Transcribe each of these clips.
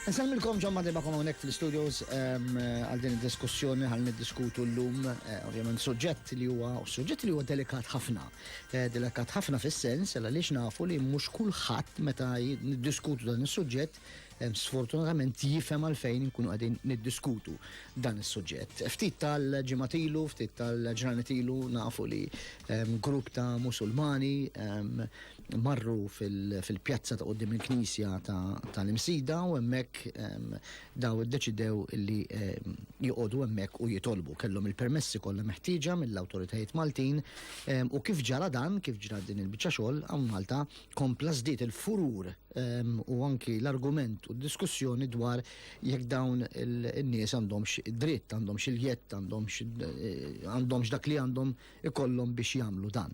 Nsalmilkom ġon madribakom għonek fil-studios ehm, għal din il-diskussjoni għal niddiskutu l-lum, eh, ovvjament, suġġett li huwa, suġġett li huwa delikat ħafna. Eh, delikat ħafna fis-sens, għal li nafu li mhux kulħadd meta niddiskutu dan is-suġġett sfortunatament jifhem għalfejn inkunu qegħdin niddiskutu dan is-suġġett. Ftit tal-ġimgħat ilu, ftit tal-ġranet ilu nafu li ehm, grupp ta' Musulmani ehm, marru fil-pjazza ta' qudiem il-Knisja tal-Imsida u hemmhekk ehm, daw iddeċidew li joqogħdu hemmhekk u jitolbu kellhom il-permessi kollha meħtieġa mill-awtoritajiet Maltin u kif ġara dan, kif ġra din il-biċċa xogħol hawn Malta kompla żdied il-furur ehm, u anki l-argument u d-diskussjoni dwar jekk dawn in-nies għandhomx dritt, għandhomx il-jett, għandhomx eh, dak li għandhom ikollhom biex jagħmlu dan.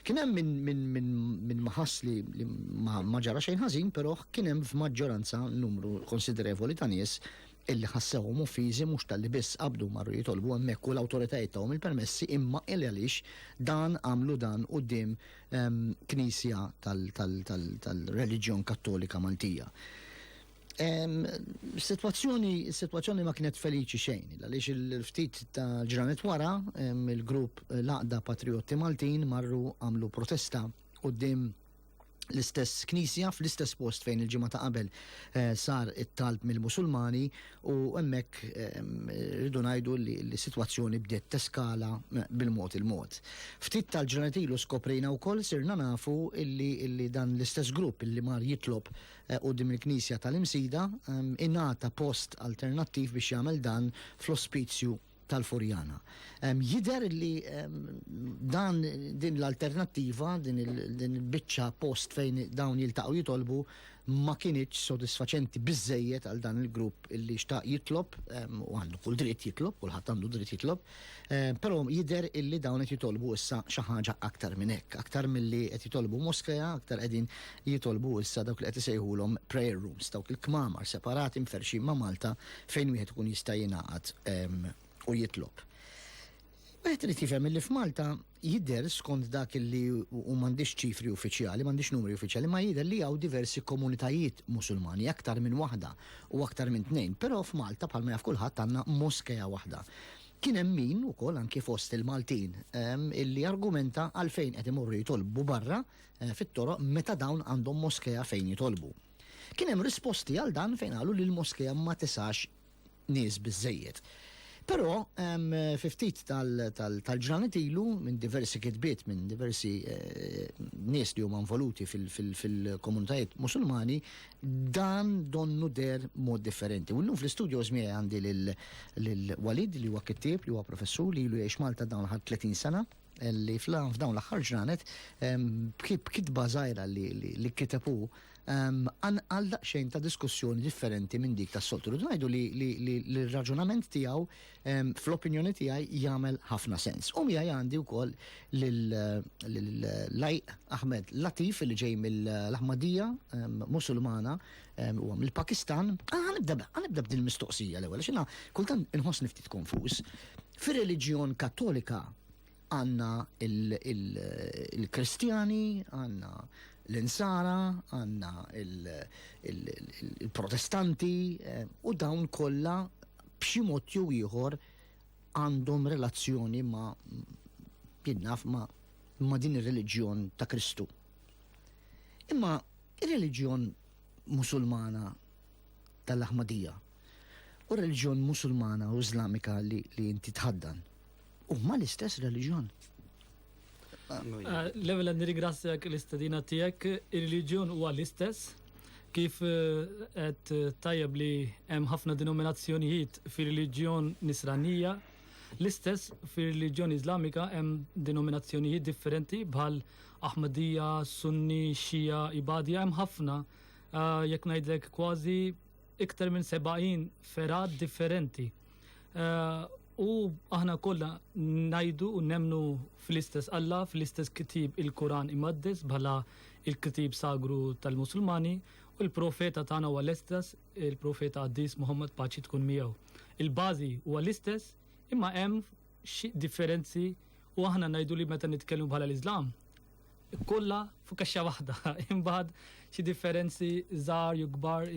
Kien hemm minn min, min, min maħass li, li ma ġara xejn ħażin, però kien hemm f'maġġoranza numru konsiderevoli ta' nies illi ħassewhom uffiżi mhux tal-li biss qabdu marru jitolbu hemmhekk u l-awtoritajiet tagħhom il-permessi imma il għaliex dan għamlu dan quddiem knisja tal-reliġjon kattolika Maltija. Situazzjoni, situazzjoni ma kienet feliċi xejn, għaliex il-ftit ta' ġranet wara, il-grupp Laqda Patriotti Maltin marru għamlu protesta u dim l-istess knisja fl-istess post fejn il-ġimgħa ta' qabel eh, sar it-talb mill-Musulmani U hemmhekk rridu ngħidu li s-sitwazzjoni bdiet teskala bil-mod il-mod. Ftit tal-ġranet ilu skoprejna wkoll sirna nafu illi dan l-istess grupp illi mar jitlob eh, quddiem il-Knisja tal-Imsida ingħata post alternattiv biex jagħmel dan fl-ospizju tal-Furjana. Jider li dan din l-alternattiva, din il-bicċa post fejn dawn jiltaqgħu jitolbu ma kienieċ sodisfaċenti biżejjed għal dan il-grupp illi xtaq jitlob u għandu kull dritt jitlob, kulħadd għandu dritt jitlob, però jider illi dawn qed jitolbu issa xi ħaġa aktar minn hekk, aktar milli qed jitolbu moskeja, aktar qegħdin jitolbu issa dawk li qed isejħulhom prayer rooms, dawk il-kmamar separati mferxin ma' Malta fejn wieħed ikun jista' jingħaqad u jitlob. Wieħed irid jifhem li f'Malta jidher skont dak li u m'għandix ċifri uffiċjali, m'għandix numri uffiċjali, ma jidher li hawn diversi komunitajiet Musulmani aktar minn waħda u aktar minn tnejn, però f'Malta bħalma jaf kulħadd għandna moskeja waħda. Kien hemm min ukoll anki fost il-Maltin ehm, illi argumenta għalfejn qed imorru jitolbu barra eh, fit-toroq meta dawn għandhom moskeja fejn jitolbu. Kien hemm risposti għal dan fejn qalu li l-moskea ma tisax nies biżżejjed. Però fi ftit tal-ġranet ilu minn diversi kitbiet minn diversi eh, nies li huma involuti fil-komunitajiet musulmani dan donnu der mod differenti. U llum fl-istudio żmie għandi lil Walid li huwa kittieb li huwa professur li ilu jgħix Malta dawn ħad 30 sena li fl-għan f'dawn l-axħar ġranet b'kitba zaħira li kitepu għal daqxejn ta' diskussjoni differenti minn dik ta' soltu. Rridu ngħidu li l-raġunament tiegħu fl-opinjoni tiegħi jagħmel ħafna sens. U miegħi għandi wkoll l-lajq Ahmed Latif li ġej mill-Ahmadija Musulmana u mill-Pakistan. Għanibda b'dil mistoqsija l-ewwel, xina kultant inħoss niftit konfus. Fir-reliġjon Kattolika għandna il-Kristjani, għandna l-Insara, għandna il-Protestanti eh, u dawn kollha b'xi mod jew ieħor għandhom relazzjoni ma' jinnaf ma' ma' din ir-reliġjon ta' Kristu. Imma ir-reliġjon musulmana tal-Ahmadija u r-reliġjon Musulmana u Iżlamika li, li inti tħaddan. Huma l-istess reliġjon. Level għandi ringrazzjak l-istedina tiegħek, ir-reliġjon huwa l-istess kif qed tajjeb li hemm ħafna denominazzjonijiet fir-reliġjon Nisranija, L-istess fir-reliġjon Iżlamika hemm denominazzjonijiet differenti bħal Ahmadija, Sunni, Xija, Ibadija, hemm ħafna. Ah, jekk ngħidlek kważi iktar minn 70 fergħat differenti. U aħna kollha ngħidu u nemnu fl-istess Alla, fl-istess kitib il-Kuran imaddes bħala il-kitib sagru tal-Musulmani u l-profeta tagħna huwa l-istess il-profeta Qaddis Muhammad paċi tkun miegħu. Il-bażi huwa l-istess imma hemm xi differenzi u aħna ngħidu li meta nitkellmu bħala l-Iżlam Kollha fuq kaxxa waħda, imbagħad xi differenzi żgħar jew kbar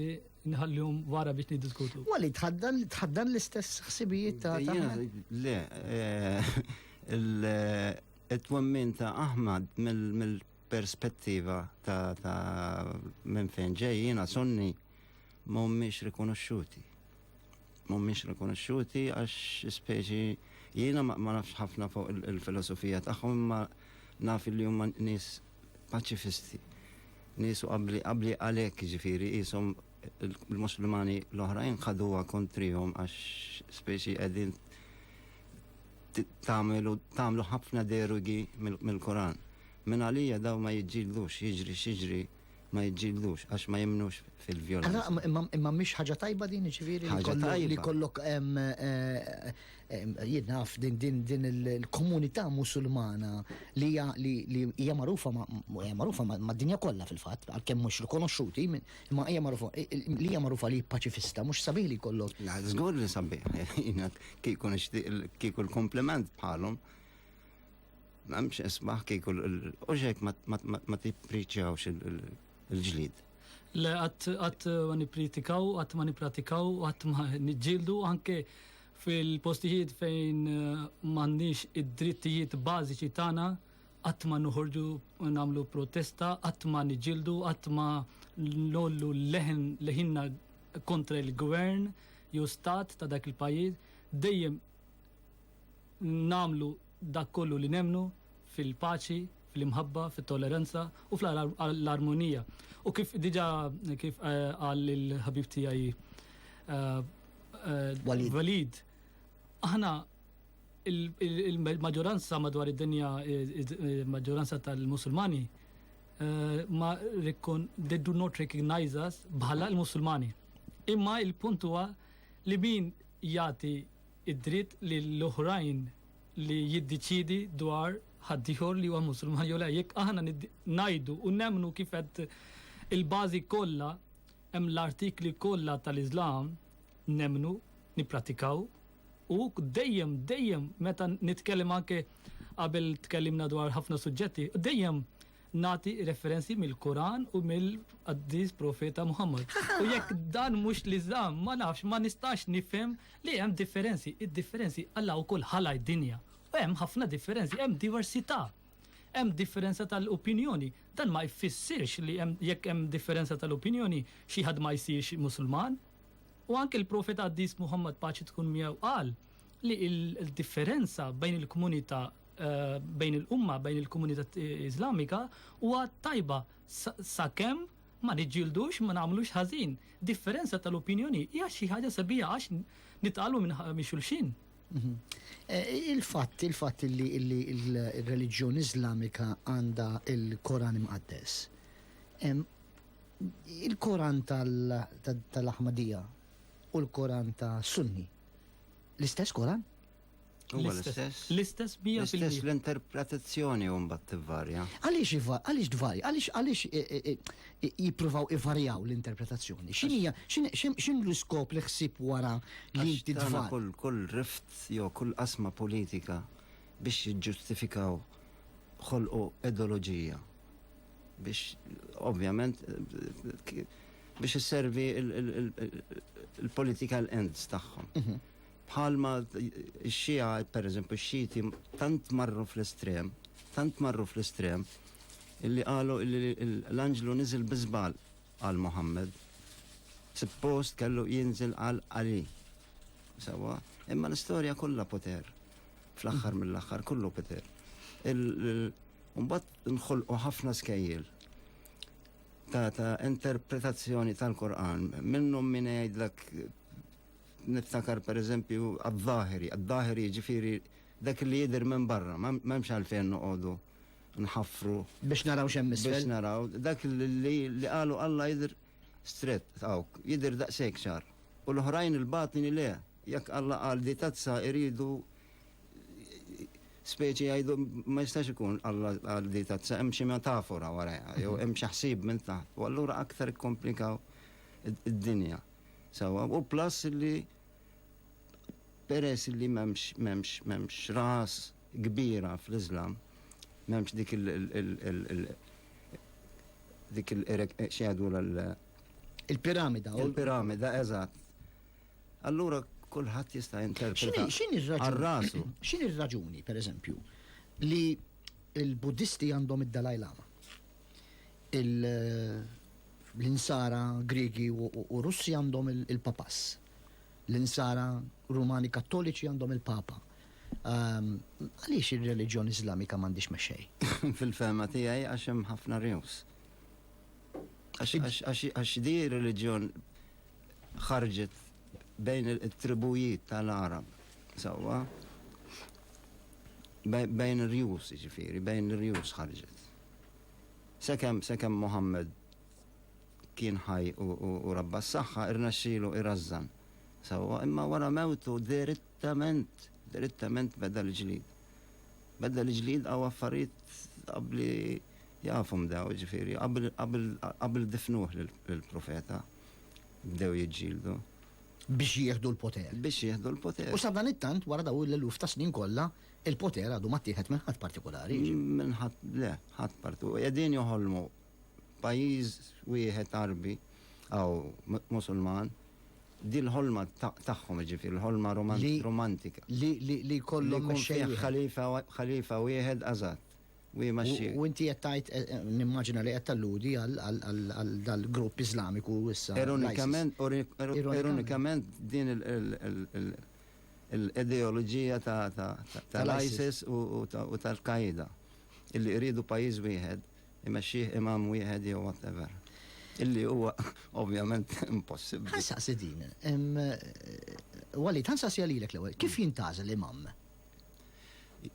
nħallihom wara biex niddiskutu. Wali tħaddan tħaddan l-istess ħsibijiet ta' Le, eh, il-twemmin eh, ta' Ahmad mill perspettiva ta', ta minn fejn ġejjina sonni mhumiex rikonoxxuti. mhumiex rikonoxxuti għax speċi jiena ma nafx ħafna fuq il-filosofija tagħhom imma naf li huma nies paċifisti. Nies u qabli qabli għalhekk ġifieri qishom il-Muslimani l-oħrajn ħaduha kontrihom għax speċi qegħdin tagħmlu ħafna derugi mill-Koran. Min għalija daw ma jiġġildux jiġri xiġri ma jiġġieldux għax ma jemmnux fil-vjolenza. Imma mhix ħaġa tajba din ġifieri li kollok jinnaf din il-komunità musulmana li hija magħrufa magħrufa mad-dinja kollha fil-fatt għalkemm mhux rikonoxxuti imma hija magħrufa li hija magħrufa li paċifista mhux sabiħ li kollok. La żgur li sabiħ kieku nixtieq kieku l-kompliment bħalhom M'hemmx isbaħ kieku u xejk ma tippriċjawx il-ġlid. Le qatt ma nippritikaw, qatt ma nippratikaw, qatt ma niġġieldu anke fil-postijiet fejn eh, m'għandniex id-drittijiet bażiċi tagħna qatt ma noħorġu nagħmlu protesta, qatt ma niġġieldu, qatt ma nollu leħen leħinna kontra il-gvern jew stat ta' dak il-pajjiż, dejjem namlu dak kollu li nemmnu fil-paċi, fl-imħabba, fit-tolleranza u fl-armonija. U kif diġa kif eh, qal il-ħabib tiegħi eh, eh, Walid, aħna il-maġġoranza madwar id-dinja, il-maġġoranza tal-Musulmani, ma they do not recognize us bħala l-Musulmani. Imma il-punt huwa li min jagħti id-dritt lil oħrajn li jiddeċiedi dwar ħaddieħor li huwa Musulman jew le. Jekk aħna ngħidu u nemmnu kif qed il-bażi kollha hemm l-artikli kollha tal-Iżlam nemmnu nippratikaw u dejjem dejjem meta nitkellem anke qabel tkellimna dwar ħafna suġġetti, dejjem Nagħti referenzi mill-Quran u mill-Qaddis Profeta Muhammad. U jekk dan mhux l-Iżlam, ma nafx, ma nistax nifhem li hemm differenzi. Id-differenzi Alla wkoll ħalaq id-dinja. U hemm ħafna differenzi, hemm diversità. Hemm differenza tal-opinjoni. Dan ma jfissirx li hemm jekk hemm differenza tal-opinjoni xi ħadd ma jsirx Musulman. U anke l-Profeta Qaddis Muhammad paċi tkun miegħu qal li l-differenza bejn il-komunità eh, bejn il-umma, bejn il-komunità Islamika, huwa tajba sakemm ma niġġildux ma nagħmlux ħażin. Differenza tal-opinjoni hija xi ħaġa sabiħa għax nitqalu minn xulxin. Mhm. Eh, il-fatt, il-fatt li il-reliġjon Islamika għandha il-Koran imqaddes. Il-Koran tal-Ahmadija u l-Koran ta' Sunni. L-istess Koran? Huwa l-istess. L-istess bija fil L-istess l-interpretazzjoni u mbagħad tivvarja. Għaliex iva- għaliex dvarja? Għaliex għaliex e, e, e, e, jippruvaw ivarjaw l-interpretazzjoni? X'inhija x'in- x'in- x'in l-iskop li ħsib wara li Għax tagħna tidvar? Kull kull rift jew kull qasma politika biex jiġġustifikaw ħolqu ideoloġija. Biex ovvjament eh, k- biex isservi il- il- il- il-political ends tagħhom. Bħalma x-Xija, pereżempju, x-Xiti tant marru fl-estrem, tant marru fl-estrem, illi qalu illi l-anġlu niżel bi żball għal Muħammad. Suppost kellu jinżel għal 'Għali. Sewwa? Imma l-istorja kollha poter. Fl-aħħar mill-aħħar kollu poter. Mbagħad nħolqu ħafna skejjel ta' ta' interpretazzjoni tal-Qur'an minnhom min jgħidlek Niftakar pereżempju għad-dahiri, għad-dahiri jiġifieri dak li jidher minn barra, m'hemmx għalfejn noqogħdu nħaffru. Biex naraw x'hemm isfel. Biex naraw, dak li qalu Alla jidher strett hawnk, jidher daqshekk ċar. U l-oħrajn il-batni le, jekk Alla qal di tazza iridu speċi jgħidu ma jistax ikun Alla qal di tazza hemm xi metafora warajha, jew hemm xi ħsieb minn taħt. U allura aktar ikkomplikaw id-dinja. Sewwa, u plus li peress li m'hemmx m'hemmx m'hemmx ras kbira fl-Iżlam, m'hemmx dik il dik il x'jgħidu l Il-piramida. Il-piramida, eżatt. Allura kulħadd jista' jinterpreta. X'inhi r-raġuni? X'inhi r-raġuni, pereżempju, li l-Buddisti għandhom id-Dalai Lama? L-Insara Griegi u Russi għandhom il-Papas. L-Insara Rumani Kattoliċi għandhom il-Papa. Għaliex ir-reliġjon Iżlamika m'għandhiex mexxej? Fil-fehma tiegħi għax hemm ħafna rjus. Għax di reliġjon ħarġet bejn it-tribujiet tal-Għarab, sewwa? Bejn ir-rjus, jiġifieri, bejn ir-rjus ħarġet. Sakemm sakemm Mohammed kien ħaj u rabba s-saħħa rnexxielu jrażżan sewwa imma wara mewtu dirittament dirittament beda l-ġlied. Beda l-ġlied hawn affarijiet qabbli jafhom dawn jiġifieri qabel difnuh lill-Profeta bdew jiġġieldu. Biex jieħdu l-poter. Biex jieħdu l-poter. U sadanittant wara dawn l-eluf ta' snin kollha Il-poter għadu ma ttieħed minn ħadd partikulari. Minn ħadd le, ħadd partu. Qegħdin joħolmu pajjiż wieħed Arbi aw Musulman dil-ħolma tagħhom ġifier l-ħolma romantika. Li jkollhom ħalifa ħalifa wieħed għażat. U inti qed tgħid eh, eh, nimmaġina li qed talludi għal dal-grupp Iżlamiku issa. Ironikament, ironikament din il- l-ideoloġija tal-ISIS u tal-Qaeda illi jridu pajjiż wieħed imexxih imam wieħed jew whatever. Illi huwa ovvjament impossibbli. Ħa nsaqsi din. Walid, ħa nsaqsi għalilek l-ewwel. Kif jintgħażel imam?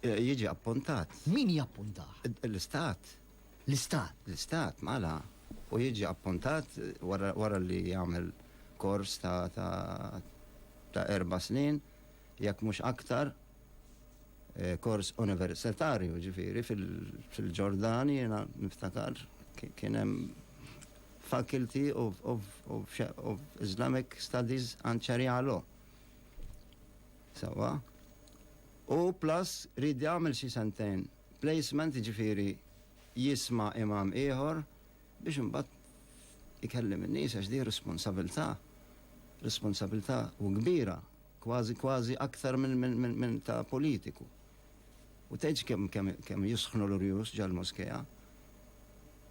Jiġi appuntat. Min jappuntah? L-istat. l-Istat. L-Istat, mela, u jiġi appuntat wara li jagħmel kors ta' erba' snin, jekk mhux aktar, kors universitarju, ġifieri fil-Ġordan jiena niftakar kien hemm Faculty of Islamic Studies and Sharia Law. Sewwa? U plus ried jagħmel xi sentejn. Placement jiġifieri jisma' imam ieħor biex imbagħad ikellem in-nies għax din responsabilità, responsabilità u kbira kważi kważi aktar minn ta' politiku. U tgħidx kemm kemm kemm jisħnu l-urjus ġal-moskea.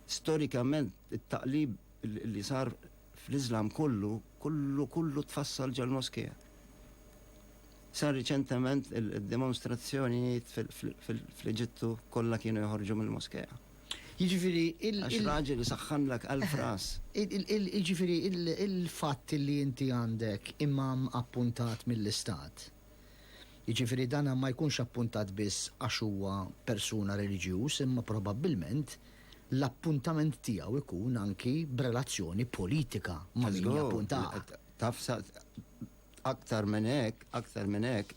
Storikament it-taqlib li sar fl-Iżlam kollu kollu kollu tfassal ġal-moskea. Sa riċentement id-demonstrazzjonijiet fl-Eġittu kollha kienu joħorġu mill-moskea. Jiġifieri il. Għax raġel saħħanlek elf ras. Jiġifieri il-fatt li inti għandek imam appuntat mill-istat, jiġifieri dan ma jkunx appuntat biss għax huwa persuna reliġjuż imma probabbilment l-appuntament tiegħu jkun anki b'relazzjoni politika ma' min jappuntah. Taf sa Aktar minn hekk, aktar minn hekk,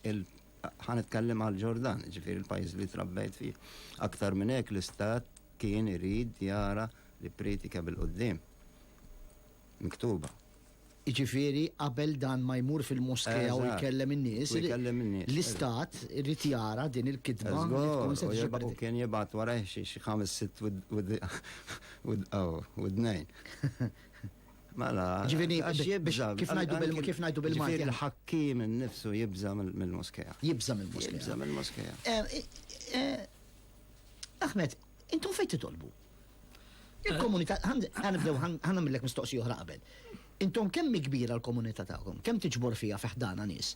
ħa nitkellem għal Ġordan, ġifieri l-pajjiż li trabbejt fih. Aktar minn hekk l-istat kien irid jara li priedika bil-quddiem miktuba. Jiġifieri qabel dan ma jmur fil-moskea u jkellem in-nies, l-istat irid jara din il-kitba li tkun se tiġi ppredik. U kien jibgħat warajh xi ħames sitt widnejn. Mela, ġivini, kif najdu bil-Malti? Kif najdu bil-Malti? Il-ħakkim nifsu jibza mill-moskeja. Jibza mill-moskeja. Jibza mill-moskeja. Eh, eh, eh, Ahmed, intom fejn titolbu? Il-komunità, ħanibdew, ħanamillek mistoqsi oħra qabel. Intom kemm kbira l-komunità tagħkom? Kemm tiġbor fija fiħdana nies?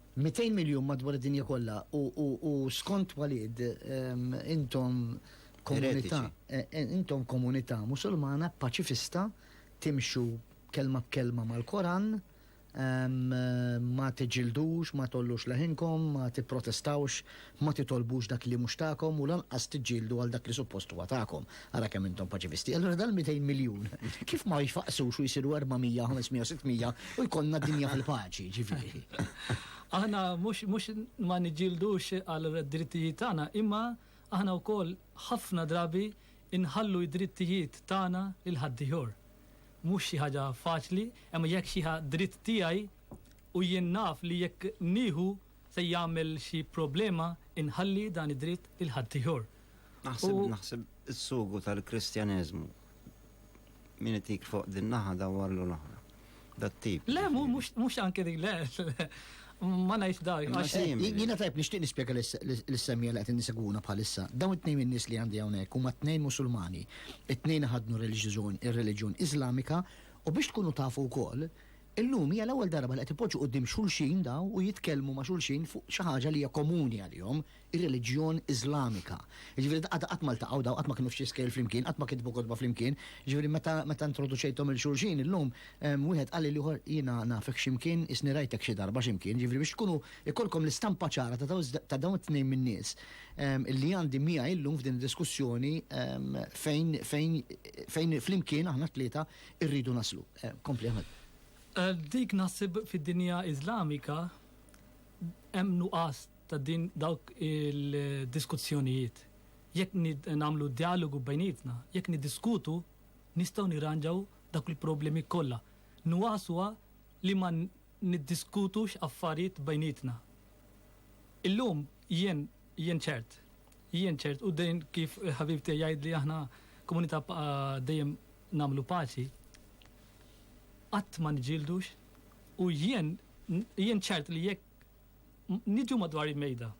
200 miljun madwar id-dinja kollha u skont Walid intom komunità intom komunità Musulmana paċifista timxu kelma b'kelma mal-Koran ma tiġġildux ma tgħollux leħinkom ma tipprotestawx Ma titolbux dak li mhux tagħkom u lanqas tiġġieldu għal dak li suppost huwa tagħkom. Ara kemm intom paċifisti. Allura dal-200 miljun kif ma jfaqqsux u jsiru 400, 500 u 600 u jkollna dinja fil-paċi, ġifieri. Aħna mhux mhux ma niġġieldux għal drittijiet tagħna imma aħna wkoll ħafna drabi nħallu d-drittijiet tagħna lil ħaddiehor. Mhux xi ħaġa faċli, imma jekk xi ħa dritt tiegħi u jien naf li jekk nieħu se jagħmel xi problema inħalli dan id-dritt lil ħaddieħor. Naħseb, naħseb is-sugu tal-Kristjaneżmu. Min itik fuq din naħa dawwarlu l-oħra. Dat-tip. Le, mhux anke dik, le. Ma ngħidx dak. Jiena tajb nixtieq nispjega lis-semmija li qed nisegwuna bħalissa. Dawn it-tnejn min-nies li għandi hawnhekk huma tnejn Musulmani. It-tnejn ħadnu reliġjon, ir-reliġjon Iżlamika u biex tkunu tafu wkoll Illum hija l-ewwel darba li qed ipoġġu quddiem xulxin dawn u jitkellmu ma' xulxin fuq xi ħaġa li hija komuni għalihom, ir-reliġjon Iżlamika. Jiġifieri daqqada qatt ma ltaqgħu dawn, qatt ma kienu f'xi skejjel flimkien, qatt ma kitbu kotba flimkien. Jiġifieri meta meta introduċejthom 'il xulxin illum, wieħed qal lill-ieħor jiena nafek xi mkien, qisni rajtek xi darba xi mkien. Jiġifieri biex tkunu jkollkom l-istampa ċara ta' dawn ta' dawn it-tnejn min-nies li għandi miegħi llum f'din id-diskussjoni fejn fejn fejn flimkien aħna t-tlieta irridu naslu. Kompli Ahmed. Dik naħseb fid-dinja Iżlamika hemm nuqqas ta' din dawk il-diskussjonijiet. Jekk nagħmlu dialogu bejnietna, jekk niddiskutu, nistgħu nirranġaw dawk il-problemi kollha. Nuqqas huwa li ma niddiskutux affarijiet bejnietna. Illum jien jien ċert, jien ċert u dejjem kif ħabib tiegħi jgħidli aħna komunità dejjem nagħmlu paċi, qatt ma niġġieldux u jien jien ċert li jekk niġu madwar il-mejda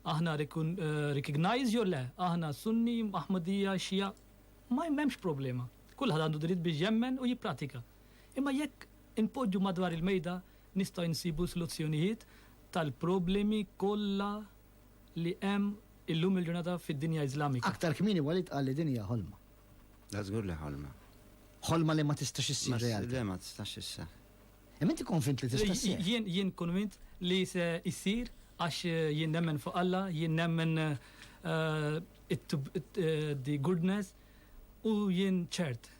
aħna recognize jew le, aħna Sunni, Ahmadija, Xija, ma jemmemx problema. Kulħadd għandu dritt biex jemmen u jippratika. Imma jekk inpoġġu madwar il-mejda nistgħu nsibu soluzzjonijiet tal-problemi kollha li hemm illum il-ġurnata fid-dinja Iżlamika. Aktar kmieni Walid qal li din hija ħolma. Da żgur li ħolma. Ħolma li ma tistax issir realtà. Le ma tistax isseħ. Imma inti konvint li tista' ssir. Jien jien konvint li se issir għax eh, jien nemmen fuq Alla, jien nemmen eh, eh, the goodness u jien ċert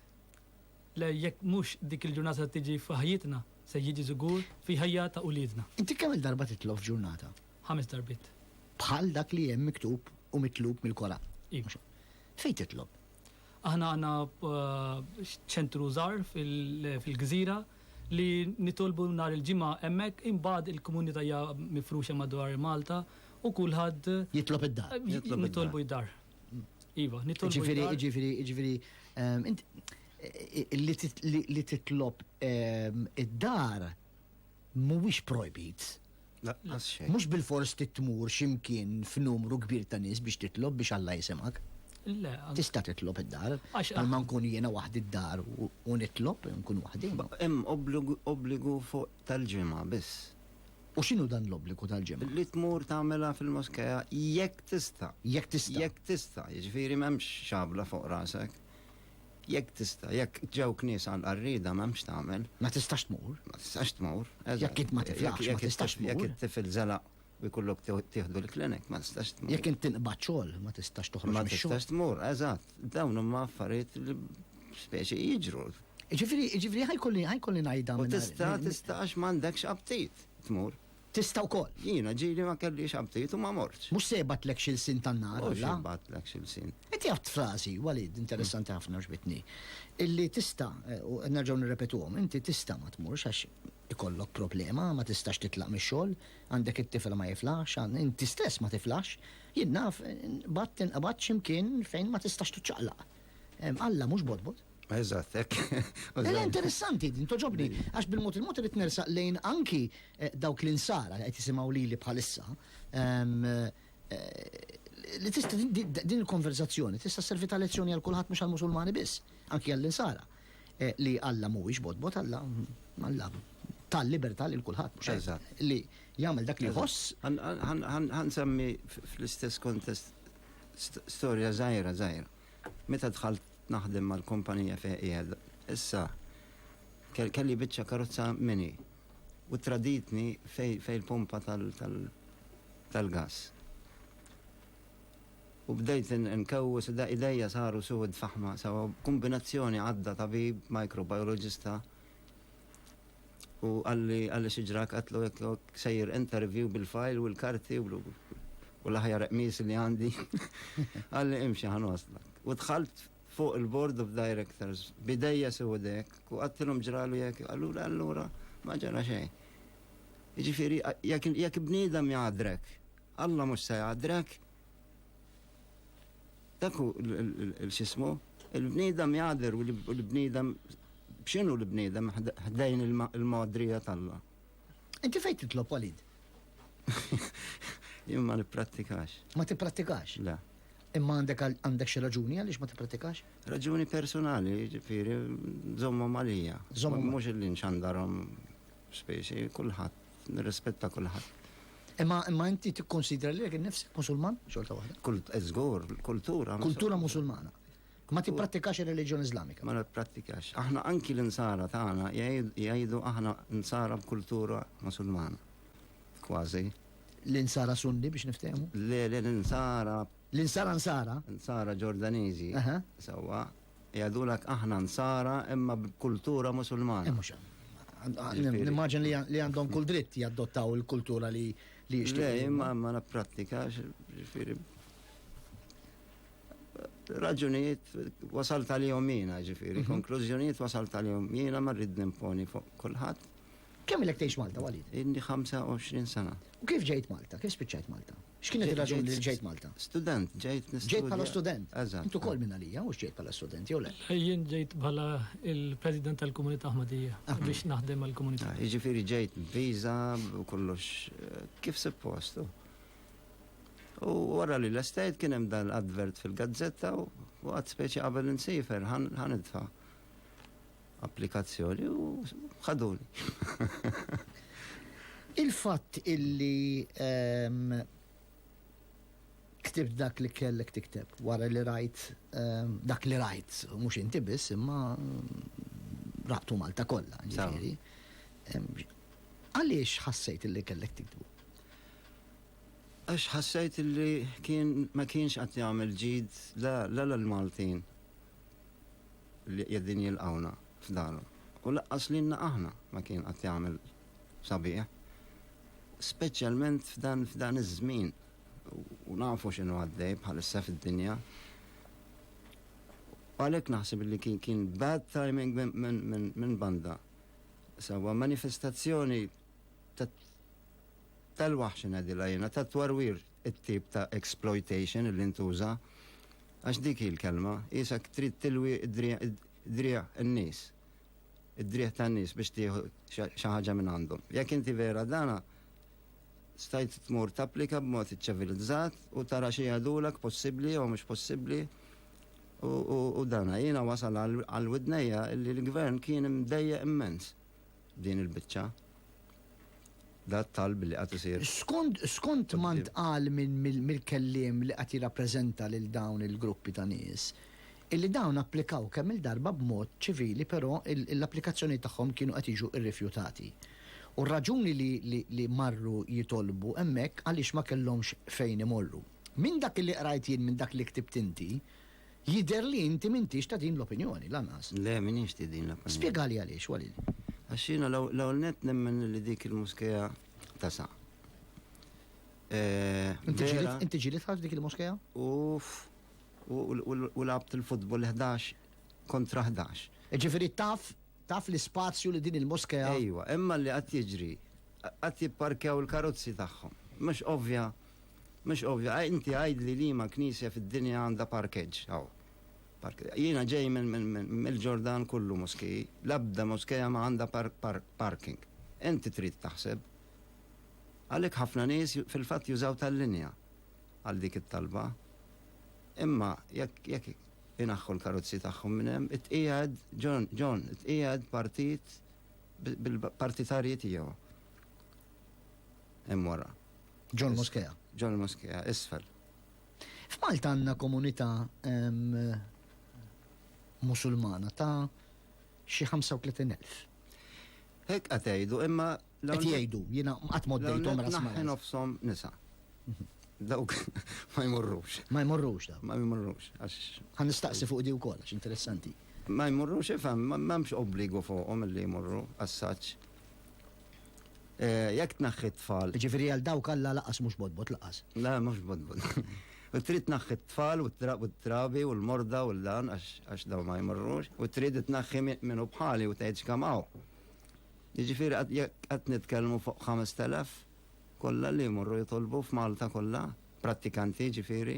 le jekk mhux dik il-ġurnata tiġi f'ħajjitna se jiġi żgur fi ħajja ta' uliedna. Inti kemm il-darba titlob f'ġurnata? Ħames darbit. Bħal dak li hemm miktub u mitlub mill-Koran. Iva. Fejn titlob? Aħna għandna ċentru żgħar fil-gżira li nitolbu nhar il-Ġimgħa hemmhekk imbagħad il-komunità hija mifruxa madwar Malta u kulħadd. Jitlob id-dar. Nitolbu id-dar. Iva, nitolbu. Jiġifieri, jiġifieri, jiġifieri li titlob id-dar mhuwiex projbit. Laqqas xejn. Mhux bilfors trid tmur xi mkien f'numru kbir ta' nies biex titlob biex Alla jisimgħek. Le. Tista' titlob id-dar. Għax. Bħalma nkun jiena waħdi d-dar u nitlob, nkun waħdi. Hemm obbligu fuq tal-ġimgħa biss. U x'inhu dan l-obbligu tal-ġimgħa? Li tmur tagħmilha fil-moskea jekk tista'. Jekk tista'. Jekk tista', jiġifieri m'hemmx xabla fuq rasek. Jekk tista', jekk ġew knisja għal qarrieda m'hemm x'tagħmel. Ma tistax tmur. Ma tistax tmur. Jekk int ma tiflaħx, ma tistax tmur. Jekk it-tifel żelaq u jkollok tieħdu l-klinik, ma tistax tmur. Jekk int tinqbad xogħol, ma tistax toħroġ mix-xogħol. Ma tistax tmur, eżatt. Dawn huma affarijiet li speċi jiġru. Ġifieri, ġifieri ħajkolli ħajkolli ngħidha. U tista' tista' għax m'għandekx aptit tmur. Tista' wkoll. Jiena ġieli ma kellix aptit u ma mortx. Mhux se jibgħatlekx ilsien tan-nar Alla. Mhux jibgħatlekx ilsien. Inti għidt frażi, Walid, interessanti ħafna għoġbitni, illi tista', u nerġgħu nirrepetuhom, inti tista' ma tmurx għax ikollok problema, ma tistax titlaq mix-xogħol, għandek it-tifel ma jiflaħx, inti stess ma tiflaħx, jien naf, inqbadt, tinqbad x'imkien fejn ma tistax tiċċaqlaq. Alla mhux botbot. Eżatt, hekk. Ela interessanti din toġobni għax bil-mod il-mod irid nersaq lejn anki eh, dawk li nsara qed jisimgħu lili bħalissa. Eh, li tista' din il-konverzazzjoni tista' servi ta' lezzjoni għal kulħadd mhux għall-Musulmani biss, anki għall-insara eh, li Alla mhuwiex botbot Alla Alla tal-libertà lil kulħadd mhux li jagħmel dak li jħoss. Ħansemmi fl-istess kontest Storja żgħira żgħira. Meta dħalt naħdem mal-kumpanija fejn qiegħed issa, kelli biċċa karozza mini u traditni fejn il-pumpa tal-gass. U bdejt inkewwes u idejja saru suwed faħma sewwa. B'kumbinazzjoni għadda tabib, microbiologista, U qalli, qalli xi ġrak qatlu hekk hekk sejjer interview bil-file u l-karti u u l-aħjar qmiż li għandi. Qalli imxi ħa nwaslak. U dħalt fuq il-board of directors bidejja sewdek u qattilhom ġralu jekk qallu allura ma ġara xejn. Jiġifieri jekk bniedem jgħadrek, Alla mhux se jgħadrek Dak hu l-xismu, il-bniedem jagħder u l-bniedem b'x'inhu l-bniedem ħdejn il-magħdrija t'Alla. Inti fejn titlob Walid? Jien ma nipprattikax. Ma tipprattikax? Le. Imma għandek għandek xi raġuni għaliex ma tipprattikax? Raġuni personali, ġifieri żommhom għalija. Żommhom mhux illi nxandarhom Specie, kulħadd, nirrispetta kulħadd. Imma imma inti tikkonsidra lilek innifsek Musulman xorta waħda? Kult, eh, żgur, kultura. Kultura Musulmana. Ma tipprattikax ir-reliġjon Iżlamika. Ma nipprattikax. Aħna anki l-insara tagħna jgħidu aħna insara b'kultura Musulmana. Kważi. L-insara sunni biex niftehmu? Le, le, l-insara. L-insara nsara? Insara Ġordaniżi. Aha. Sewwa. Jgħidulek aħna Nsara imma b'kultura Musulmana. Nimmaġin li għandhom kull dritt jaddottaw il-kultura li jixtiequ. Le, imma ma napprattikax, ġifieri. Raġunijiet wasal tal-jom jiena, ġifieri, mhm. konklużjonijiet wasal tal-jom jiena ma rrid nimponi fuq kulħadd. Kemm ilek tgħix Malta, Walid? Inni 25 sena. U kif ġejt Malta? Kif spiċċajt Malta? X'kienet ir-raġuni li ġejt Malta? Student, ġejt nistudja. Ġejt bħala student. Eżatt. Intu kol minn għalija, mhux ġejt bħala student, jew le? Jien ġejt bħala il-President tal-Komunità Ahmadija biex naħdem għall-komunità. Ah, jiġifieri ġejt viża u kollox eh, kif suppostu. U wara li l-estate kien hemm dal-advert fil-gazzetta u għad speċi qabel insifer ħanidfa. applikazzjoni u ħaduni. Il-fatt illi ehm, ktibt dak li kellek tikteb wara li rajt ehm, dak li rajt, mhux inti biss imma ehm, raqtu Malta kollha, ġifieri. Għaliex ħassejt illi kellek tiktbu? Għax ħassejt illi kien ma kienx qed jagħmel ġid la l-Maltin li qiegħdin jilqgħuna f'darhom. U laqqas lilna aħna ma kien qatt jagħmel sabiħ. Speċjalment f'dan f'dan iż-żmien u nafu x'inhu għaddej bħalissa fid-dinja. U għalhekk naħseb li kien kien bad timing minn banda. Sawa manifestazzjoni tal-waħx ngħidilha jiena tat-twarwir it-tip ta' exploitation li ntuża, għax dik hi l-kelma, qisek trid tilwi d-driegħ in-nies, id-driegħ tan-nies biex tieħu xi ħaġa minn għandhom. Jekk inti vera dan, stajt tmur tapplika b'mod iċċevilizzat u tara xi jgħidulek possibbli jew mhux possibbli u dan. Jiena wasal għal widnejja li l-gvern kien imdejjaq immens. din il-biċċa. Da t-talb li qed isir. Skont skont ma ntqal mill-kelliem li qed jirrappreżenta lil dawn il-gruppi ta' nies, illi dawn applikaw kemm-il darba b'mod ċivili però l-applikazzjonijiet tagħhom kienu qed jiġu rrifjutati. U r-raġuni li marru jitolbu hemmhekk għaliex ma kellhomx fejn imorru. Minn dak li qrajt jien minn dak li ktibt inti, Jidher li inti m'intix ta' din l-opinjoni, lanqas. Le, m'iniex ti' din l-opinjoni. Spjegali għaliex, Walid. Għax jiena l-ewwel nett nemmen li dik il-muskea tasa'. Vera. Inti ġilidtha f'dik il-muskea? Uff. U lagħbt il-futbol 11 kontra 11. Jiġifieri taf, taf l-ispazju li din il-muskea. Ejwa, imma li qed jiġri, qed jipparkew il-karozzi tagħhom. Mhux ovvja Mhux ovvju. Inti għidli liema knisja fid-dinja għandha parkeġġ hawn. Jiena ġej mill-Ġordan kullu moskiji, l-ebda moskea ma għandha parking. Inti trid taħseb. Għalhekk ħafna nies fil-fatt jużaw tal-linja għal dik it-talba. Imma jekk inaħħu l-karozzi tagħhom minn hemm, itqiegħed, John, John, itqiegħed partit bil-partitarji tiegħu hemm wara. Ġol Moskea. Ġol Moskea, isfel. F'Malta għandna komunità musulmana ta' xi 35,000. Hekk qed jgħidu, imma qed jgħidu, jiena qatt mod dejthom rasma. Nofshom nisa. Mhm. Dawk ma jmorrux. Ma jmorrux dawk. Ma jmorrux. Għan nistaqsi fuq di wkoll għax interessanti. Ma jmorrux ifhem, m'hemmx obbligu fuqhom li jmorru assaċ. Eh, jekk tnaħħi tfal. Ġifiri għal dawk alla laqas mhux bodbot laqas. La, mhux bodbot. U trid tnaħħi tfal u t-trabi u l-morda u l-dan għax daw ma jmorrux. U trid tnaħħi minnu bħali u tgħid xkamaw. Ġifiri qed nitkellmu fuq 5000 kollha li jmorru jitolbu f'Malta kollha, prattikanti ġifiri.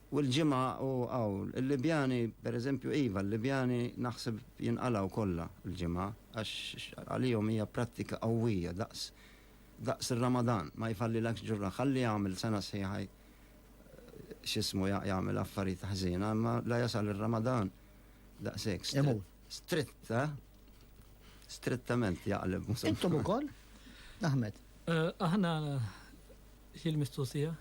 U l-ġimgħa u hawn, il-Libjani, per eżempju, iva, l-Libjani naħseb jinqalgħu kollha l-ġimgħa għax għalihom hija prattika qawwija daqs daqs ir-Ramadan, ma jfallilekx ġurra. Ħalli jagħmel sena sħiħa x'ismu jagħmel affarijiet ħżiena, imma la jasal ir-Ramadan daqshekk. Stritta, strittament jaqleb. Intom ukoll? Ahmed. Eh, aħna Xil mistoqsija?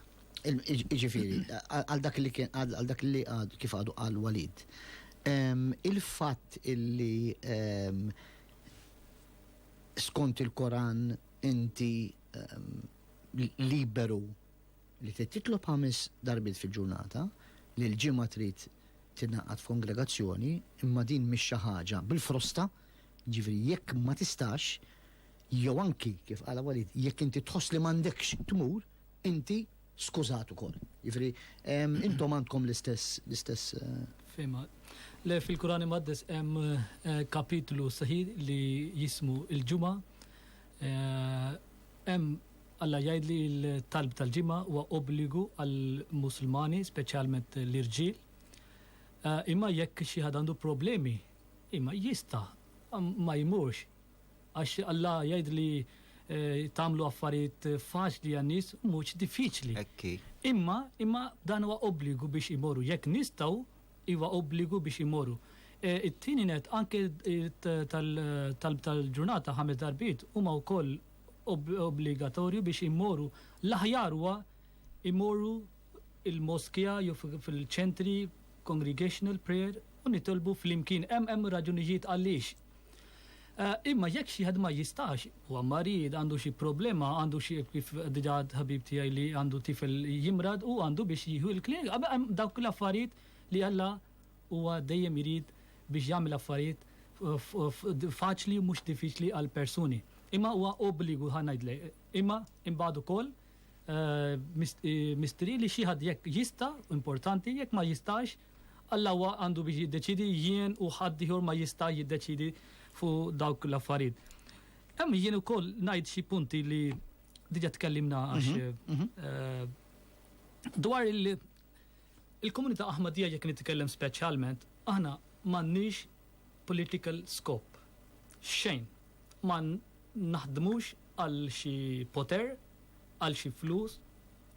Ġifiri, għal dak li kien għal dak li għad kif għadu għal Walid. Il-fatt illi skont il-Koran inti liberu li trid titlob ħames darbit fil-ġurnata li l-ġimgħa trid tingħaqad f'kongregazzjoni imma din mhix xi ħaġa bil-frosta, ġifiri jekk ma tistax Jew anki, kif qala Walid, jekk inti tħoss li m'għandekx tmur, inti skużat ukoll. Jiġifieri, intom għandkom l-istess, l-istess. Fehma. Le, fil-Kuran Imqaddes hemm kapitlu sħiħ li jismu l-Ġimgħa. Hemm Alla jgħid li l-talb tal-Ġimgħa huwa obbligu għall-Musulmani, speċjalment l-irġiel. Imma jekk xi ħadd għandu problemi, imma jista' ma jmurx. Għax Alla jgħid li tagħmlu affarijiet faċli għan-nies mhux diffiċli. Hekk hi. Imma, imma dan huwa obbligu biex imorru. Jekk nistgħu, huwa obbligu biex imorru. Eh, it-tieni net, anke tal-talb tal-ġurnata ħames darbiet huma wkoll obbligatorju biex imorru l-aħjar huwa imorru il-moskja jew fil-ċentri congregational prayer u nitolbu fl-imkien hemm hemm raġunijiet għaliex Eh, imma jekk xi ħadd ma jistax, huwa marid, għandu xi problema, għandu xi kif diġà ħabib tiegħi li għandu tifel jimrad u għandu biex jieħu l-klijent. Hemm dawk l-affarijiet li Alla huwa dejjem irid biex jagħmel affarijiet faċli mhux diffiċli għal persuni. Imma huwa obbligu ħa ngħidlek. Imma imbagħad ukoll eh, eh, mistri li xi ħadd jekk jista' importanti jekk ma jistax Alla huwa għandu biex jiddeċiedi, jien u ħadd ieħor ma jista' jiddeċiedi fuq dawk l-affarijiet. Hemm jien ukoll ngħid xi punti li diġà tkellimna għax dwar il- il-komunità Aħmadija jekk nitkellem speċjalment, aħna m'għandniex political scope. Xejn. Ma naħdmux għal xi poter, għal xi flus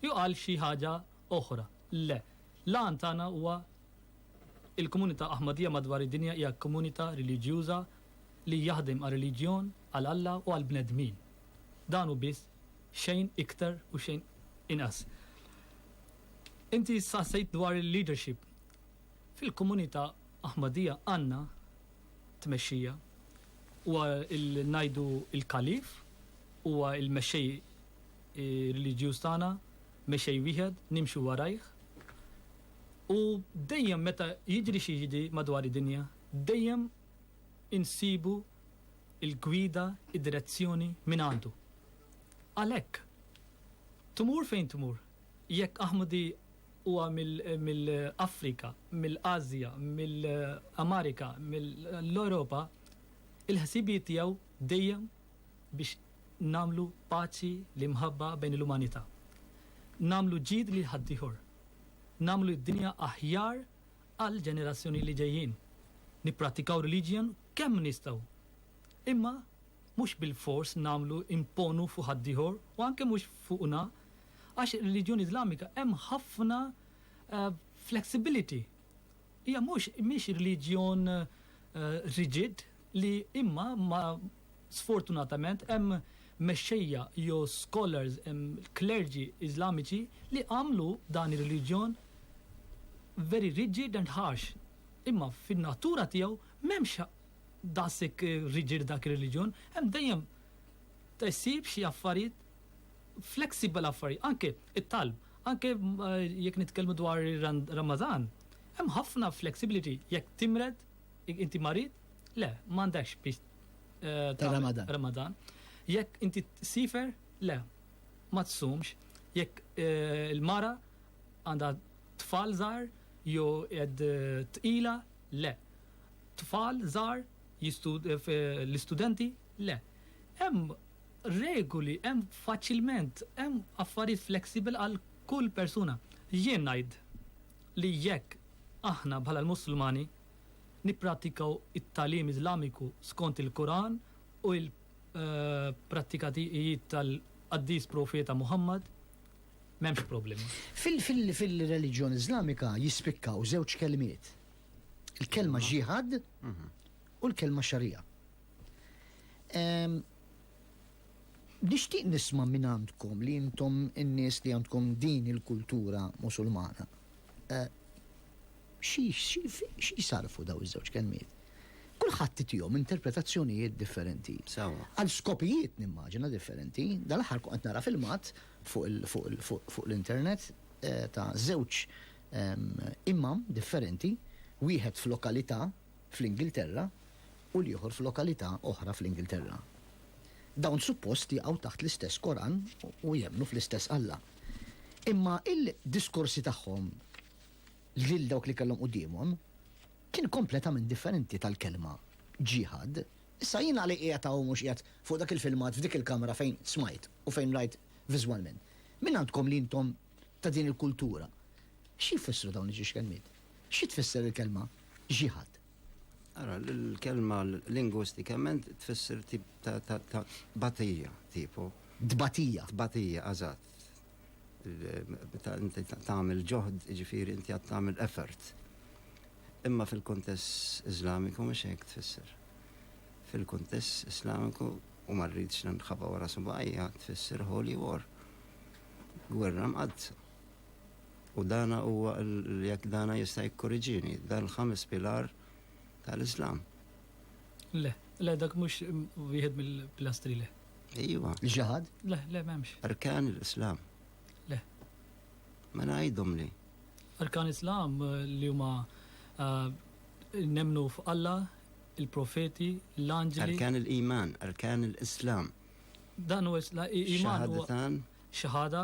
jew għal xi ħaġa oħra. Le. L-għan tagħna huwa Il-komunità Aħmadija madwar id-dinja hija komunità reliġjuża li jaħdem għar-reliġjon, għal Alla u għall-bnedmin. Dan hu biss, xejn iktar u xejn inqas. Inti staqsejt dwar il-leadership. Fil-komunità Aħmadija għandna tmexxija. Huwa ngħidu l-Kalif, huwa l-mexxej reliġjuż tagħna, Mexej wieħed, nimxu warajh. U dejjem meta jiġri xi jiġri madwar id-dinja, dejjem insibu l-gwida, id-direzzjoni mingħandu. Għalhekk, tmur fejn tmur, jekk Ahmadi huwa mill-Afrika, mill-Asja, mill-Amerika, mill-Ewropa, il-ħsibijiet tiegħu dejjem biex nagħmlu paċi l-imħabba bejn l-umanità. Nagħmlu ġid lil ħaddieħor. Nagħmlu d-dinja aħjar għall-ġenerazzjoni li ġejjin. Nipprattikaw reliġjon kemm nistgħu. Imma mhux bilfors nagħmlu imponu fuq ħaddieħor u anke mhux fuqna għax ir-reliġjoni Iżlamika hemm ħafna eh, flexibility. Hija mhux mhix reliġjon riġid li imma ma sfortunatament hemm mexxejja jew scholars klerġi Iżlamiċi li għamlu dan ir-reliġjon very rigid and harsh imma fin-natura tiegħu m'hemmx daqshekk riġid dak ir-reliġjon hemm dejjem issib xi affarijiet flexible affarijiet, anke it-talb, anke jekk nitkellmu dwar Ramadan, hemm ħafna flexibility jekk timred, jekk inti marid, le, m'għandekx biex tagħmel Ramadan. Jekk inti sifer, le, ma tsumx. Jekk il-mara għandha tfal żgħar jew qed tqila, le. Tfal żgħar l-istudenti, le. Hemm Regoli hemm faċilment, hemm affarijiet flexible għal kull persuna. Jien ngħid li jekk aħna bħala l-Musulmani nippratikaw it-tagħlim Iżlamiku skont il-Quran u il prattika tijiet tal-Qaddis Profeta Muhammad, m'hemmx problema. Fil-reliġjon Iżlamika jispikkaw żewġ kelmiet, il-kelma Jihad u l-kelma Sharia. Nixtieq nisma' minn għandkom li intom in-nies li għandkom din il-kultura Musulmana. Eh, xi jsarfu daw iż-żewġ kelmiet? Kulħadd tijom interpretazzjonijiet differenti. Għal skopijiet nimmaġina differenti, dal-aħħar qed nara filmat fuq l-internet eh, ta' żewġ ehm, imam differenti, wieħed f'lokalità fl-Ingilterra u l-ieħor f'lokalità oħra fl-Ingilterra. Dawn suppost jaqgħu taħt l-istess Koran u jemmnu fl-istess Alla. Imma il-diskorsi tagħhom lil dawk li kellhom quddiemhom kien kompletament differenti tal-kelma ġiħad. Issa jien għalhekk qiegħed hawn mhux qiegħed fuq dak il-filmat f'dik il-kamra fejn smajt u fejn rajt viżwalment. Min għandkom li intom ta' din il-kultura? X'jfissru dawn iġiex kelmiet? Xi tfisser il-kelma ġihad? Ara, l-kelma lingwistikament tfisser tip ta' batija, tipo. Tbatija. Tbatija, eżatt. Inti tagħmel ġoħd, ġifieri inti għad tagħmel effort. Imma fil-kuntess Iżlamiku mhux hekk tfisser. Fil-kuntess Iżlamiku u ma rridx nħabba wara subajja tfisser holy war. Gwerra mqaddsa. U dan huwa jekk dan jista' jikkoriġini, dan l-ħames pilar tal-Islam. Le, le dak mhux wieħed mill-pilastri le. Ejwa. Ġaħad? Le, le m'hemmx. Arkan l-Islam. Le. Ma mela ngħidhom li. Arkan l-Islam eh, li huma eh, nemnu f'Alla, il-profeti, l-anġeli. Arkan l-iman, arkan l-Islam. Dan huwa iman. Xahadatan. Xahada.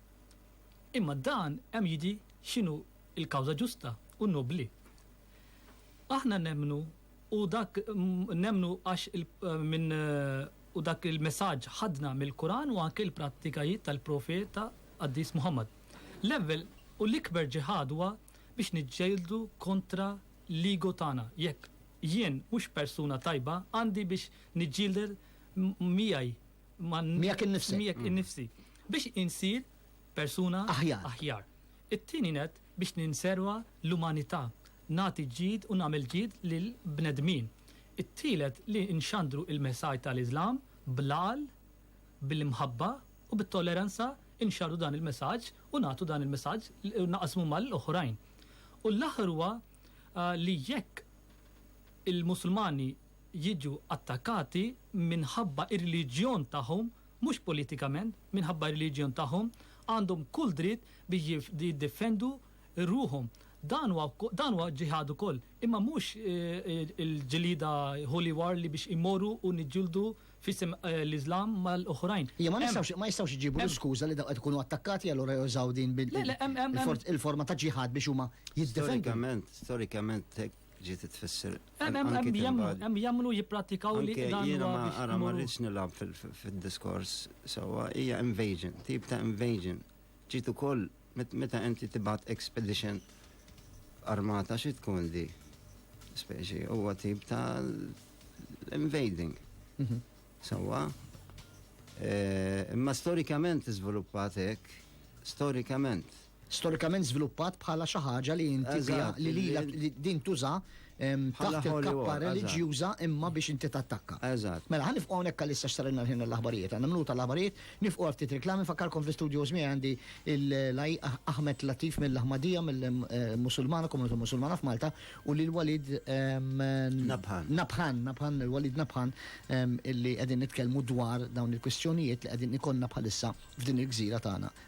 Imma dan hemm jidhi x'inhu l-kawża ġusta u nobbli. Aħna nemmnu u dak nemmnu għax minn u dak il-messaġġ ħadna mill-Quran u anke l-prattikajiet tal-Profeta Qaddis Muhammad. L-ewwel u l-ikber ġiħad huwa biex niġġieldu kontra l-ego tagħna, jekk jien mhux persuna tajba għandi biex niġġieled miegħi miegħek innifsek. Miegħek innifsi. Biex insir persuna aħjar. aħjar. It-tieni net biex ninserwa l-umanità, nagħti ġid u nagħmel ġid lil bnedmin. It-tielet li nxandru il-messaj tal-Iżlam blal, bil-imħabba u bit-tolleranza inxarru dan il-messaġġ u nagħtu dan il-messaġġ naqasmu mal-oħrajn. U l-aħħar huwa ah, li jekk il-Musulmani jiġu attakkati minħabba r-reliġjon tagħhom, mhux politikament, minħabba r-reliġjon tagħhom, għandhom kull dritt biex jiddefendu ruħhom. Dan huwa dan huwa ġiħad ukoll, imma mhux il-ġlieda holy war li biex immorru u niġġieldu f'isem l-Iżlam mal-oħrajn. Iva, ma nistgħux ma jistgħux iġibu l-iskuża li dawk qed ikunu attakkati e allura jużaw din il-forma ta' ġiħad biex huma jiddefendu. Storikament, storikament ġiet tfisser. Hemm jagħmlu jipprattikaw li dan jiena ma ara ma rridx nilgħab fid-diskors sewwa hija invasion, tip ta' invasion. Ġiet ukoll meta inti tibgħat expedition armata xi tkun di speċi huwa tip ta' invading. Mhm. Sewwa. Eh, imma storikament iżviluppat hekk, storikament storikament żviluppat bħala xi ħaġa li inti biha Eżatt, li li- lilek li din tuża ehm, Bħala taħt holy il-kappa war, eżatt. reliġjuża imma biex inti tattakka. Eżatt. Mela, ħa nifqu hawnhekk għalissa x'sarilna l-ħin għall-aħbarijiet. Għandna minuta l-aħbarijiet, nifqu għal ftit reklami, infakkarkom fl-istudios miegħi għandi il- l-Aj Ahmed Latif mill-Ahmadija, mill-Musulmana, Komunità Musulmana f'Malta, u lil Walid ehm, Nabhan. Nabhan, Nabhan, lil Walid Nabhan, ehm, illi qegħdin nitkellmu dwar dawn il-kwistjonijiet li qegħdin ikollna bħalissa f'din il-gżira tagħna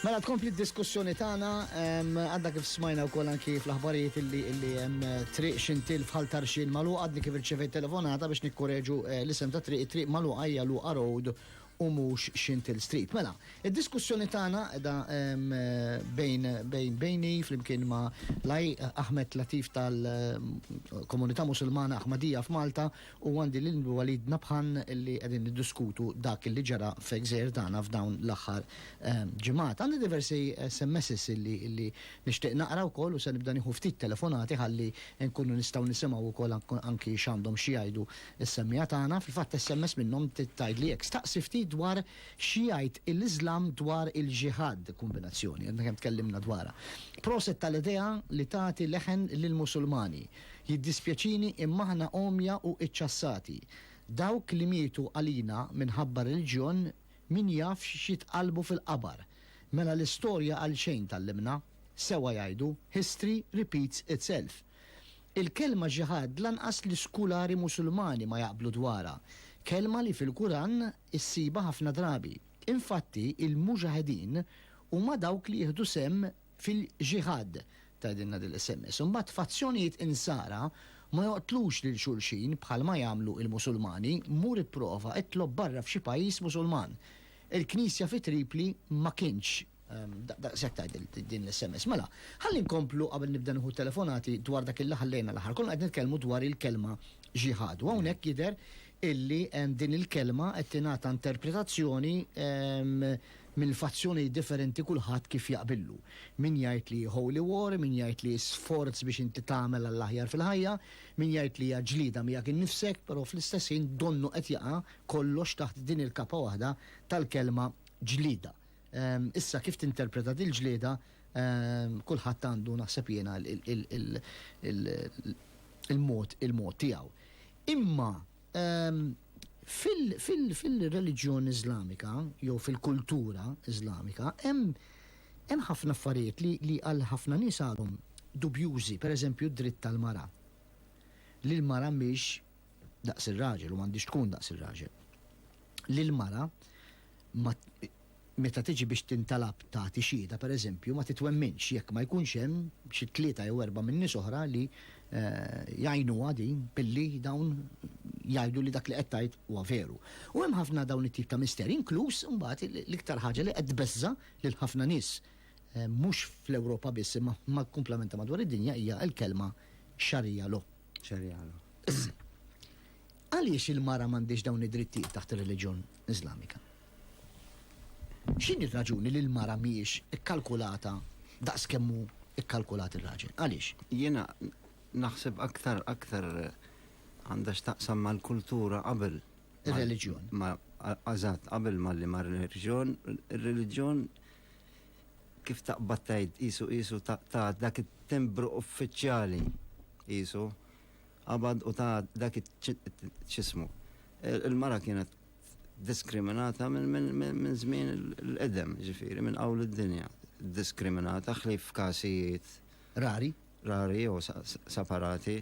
Mela tkompli d-diskussjoni tagħna għadda kif smajna wkoll anki fl-aħbarijiet illi illi hemm eh, triq xintil fħal tarxin malu għadni kif irċevejt telefonata biex nikkoreġu eh, l-isem ta' triq triq malu għajja lu road u mhux Xintill Street. Mela, id-diskussjoni tagħna qiegħda bejni flimkien ma' l-Aj Ahmed Latif tal-Komunità Musulmana Ahmadiyya f'Malta u għandi lil Walid Nabhan li qegħdin niddiskutu dak li ġara f'gżejjer tagħna f'dawn l-aħħar ġimgħat. Għandi diversi SMSs li nixtieq naqra wkoll u se nibda nieħu ftit telefonati ħalli nkunu nistgħu nisimgħu wkoll anki x'għandhom xi jgħidu Is-semmiegħa tagħna fil-fatt SMS minnhom tgħidli hekk, staqsi ftit dwar xi jgħid il-Iżlam dwar il-Ġiħad, kombinazzjoni, għadna kemm tkellimna dwarha. Proset tal-idea li tagħti leħen lill-Musulmani. Jiddispjaċini imma aħna għomja u iċċassati. Dawk li mietu għalina minħabba r-reliġjon min jaf x'jitqallbu fil-qabar. Mela l-istorja għalxejn tgħallimna? Sewwa jgħidu, history repeats itself. Il-kelma ġiħad lanqas l-iskulari Musulmani ma jaqblu dwarha, kelma li fil-Kuran issibha ħafna drabi. Infatti, il-Muġaħedin huma dawk li jieħdu sehem fil-ġiħad, tgħidilna din l-sms. Imbagħad f'azzjonijiet Insara ma joqtlux lil xulxin bħalma jagħmlu il-Musulmani, mur ipprova itlob barra f'xi pajjiż Musulman. Il-Knisja fi Tripli ma kienx Daqshekk tgħid din l-SMS. Mela, ħalli nkomplu qabel nibda nieħu telefonati dwar dak illi ħallejna l-aħħar. Konna qed nitkellmu dwar il-kelma ġihad. U hawnhekk jidher illi din il-kelma qed tingħata interpretazzjoni mill-fazzjoni differenti kulħadd kif jaqbillu. Min jgħid li holy war, min jgħid li sforz biex inti tagħmel għall-aħjar fil-ħajja, min jgħid li hija ġlieda miegħek innifsek, però fl-istess ħin donnu qed jaqa' kollox taħt din il-kapa waħda tal-kelma ġlieda. Issa kif tinterpreta dil-ġlieda kulħadd għandu naħseb jiena il-mod il-mod tiegħu. Imma fil-reliġjon Iżlamika jew fil-kultura Iżlamika hemm hemm ħafna affarijiet li għal ħafna nies għadhom dubjużi, pereżempju d-dritt tal-mara. Li l-mara mhix daqs ir-raġel u m'għandhiex tkun daqs ir-raġel, li l-mara ma meta tiġi biex tintalab tagħti xhieda pereżempju ma titwemminx jekk ma jkunx hemm xi tlieta jew erba' minn nies oħra li jgħinuha din billi dawn jgħidu li dak li qed tgħid huwa veru. U hemm ħafna dawn it-tip ta' misterji, inkluż imbagħad l-iktar ħaġa li qed tbeżża' lil ħafna nies mhux fl-Ewropa biss imma kumplament ta' madwar id-dinja hija l-kelma Sharia law. Xerjala. Għaliex il-mara m'għandix dawn id-drittijiet taħt ir-reliġjon Iżlamika? X'in ir-raġuni li l-mara mhijiex ikkalkulata daqs kemm hu ikkalkulat ir-raġel? Għaliex? Jiena naħseb aktar aktar għandha x'taqsam mal-kultura qabel. Ir-reliġjon. Eżatt, qabel ma li mar-reliġjon, ir-reliġjon kif taqbad tgħid qisu qisu ta' ta' dak it-timbru uffiċjali qisu qabad u ta' dak x'ismu. Il-mara kienet diskriminata minn żmien il-qedem, ġifieri minn qawl id-dinja. Diskriminata ħlief f'każijiet rari, rari jew separati.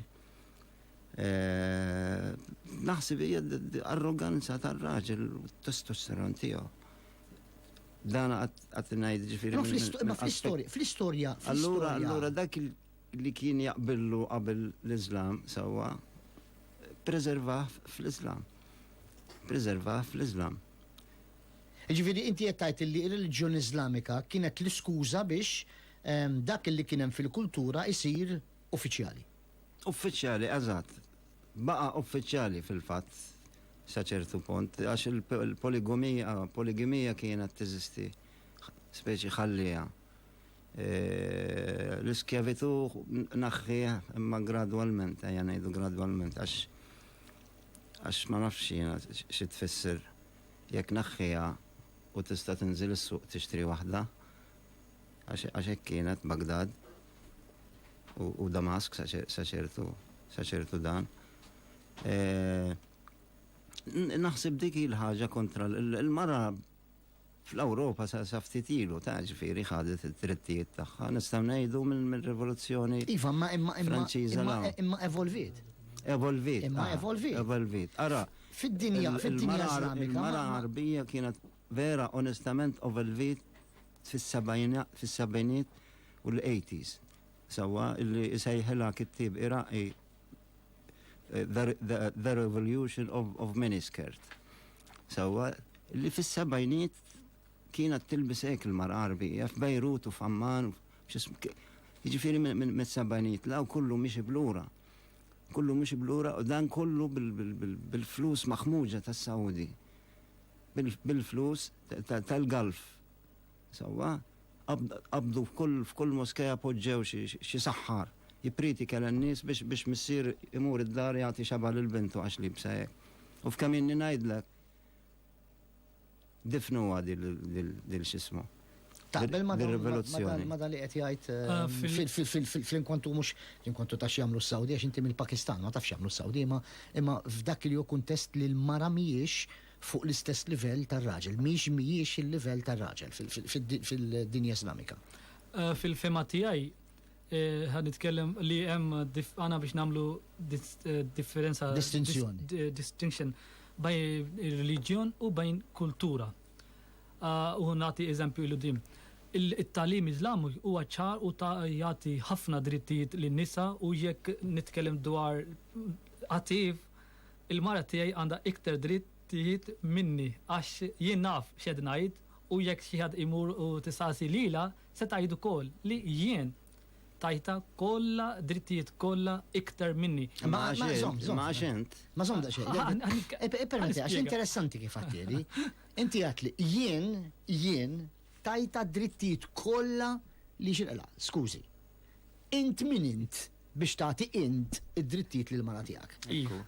Naħseb hija arroganza tar-raġel u t-testosteron tiegħu. Dan għat najd ġifiri. Fl-istoria, fl-istoria. Allura, allura dak li kien jaqbillu qabel l-Islam sawa, preserva fl-Islam. Preserva fl-Islam. Ġifiri, inti jettajt li il-reliġjon Islamika kienet l-iskuza biex ehm, dak li kienem fil-kultura isir uffiċjali. Uffiċjali, eżatt. Baqa' uffiċjali fil-fatt sa ċertu punt għax il-poligomija, poligimija kienet teżisti, speċi ħallieha. L-iskjavitu naħħieh imma gradwalment, ejja ngħidu gradwalment għax għax ma nafx jiena xi tfisser jekk naħħiha u tista' tinżil is-suq tixtri waħda. għax hekk kienet Baghdad u Damask sa ċertu dan. Eh, naħseb dik il-ħaġa kontra l-mara fl-Ewropa sa ftit ilu ta' ġifieri ħadet id-drittijiet tagħha nistgħu ngħidu mill-rivoluzzjoni. Iva, imma imma imma imma evolvit. Evolvit. Imma ah, evolvit. Evolvit. Ara, fid-dinja fid-dinja Islamika. Mara Arbija kienet Vera onestament ovelvit fis-sebgħiniet u l-eighties sewwa illi isejħilha kittieb Iraqi The Revolution of Miniskirt sewwa illi fis-sebgħiniet kienet tilbis hekk il-mara Għarbija f'Bejrut u f'Amman jiġifieri mis-sebgħiniet 'l hawn kollu miexi b'lura kollu miexi b'lura u dan kollu bil-flus maħmuġa tas-Sawdi. bil-flus tal-Gulf. Sewwa, qabdu f'kull moskea poġġew xi saħħar jippritika lin-nies biex missier imur id-dar jagħti xaba' lil bintu għax liebsa hekk. U f'kemm inni ngħidlek, difnuha dil x'ismu. Taqbel ma' rivoluzzjoni. Ma' dan li qed jgħid eh, fl-inkwantu mhux l-inkwantu ta' x'jagħmlu s-Sawdi għax inti mill-Pakistan ma tafx jagħmlu s-Sawdi imma f'dak li hu kuntest li l-mara mhijiex fuq l-istess livell tar-raġel, mhix mhijiex il-livell tar-raġel fid-dinja Islamika. Fil-fehma tiegħi, ħa nitkellem li hemm għana biex nagħmlu differenza. Distinzjoni. Distinction bajn ir-reliġjon u bajn kultura. U nagħti eżempju il dim it-talim Iżlamu huwa ċar u ta' jagħti ħafna drittijiet lin-nisa u jekk nitkellem dwar qativ Il-mara tiegħi għandha iktar dritt tieħed minni għax jien naf x'qed ngħid u jekk xi ħadd imur u tistaqsi lilha se tgħid ukoll li jien tajtha kollha drittijiet kollha iktar minni. Imma għax int, imma għax int. Ma żomm daqsxejn. Ippermetti għax interessanti kif għattieli. Inti għat li jien, jien tajtha drittijiet kollha li xilqla. Skużi. Int min int? biex tagħti int id-drittijiet lill-mara tiegħek.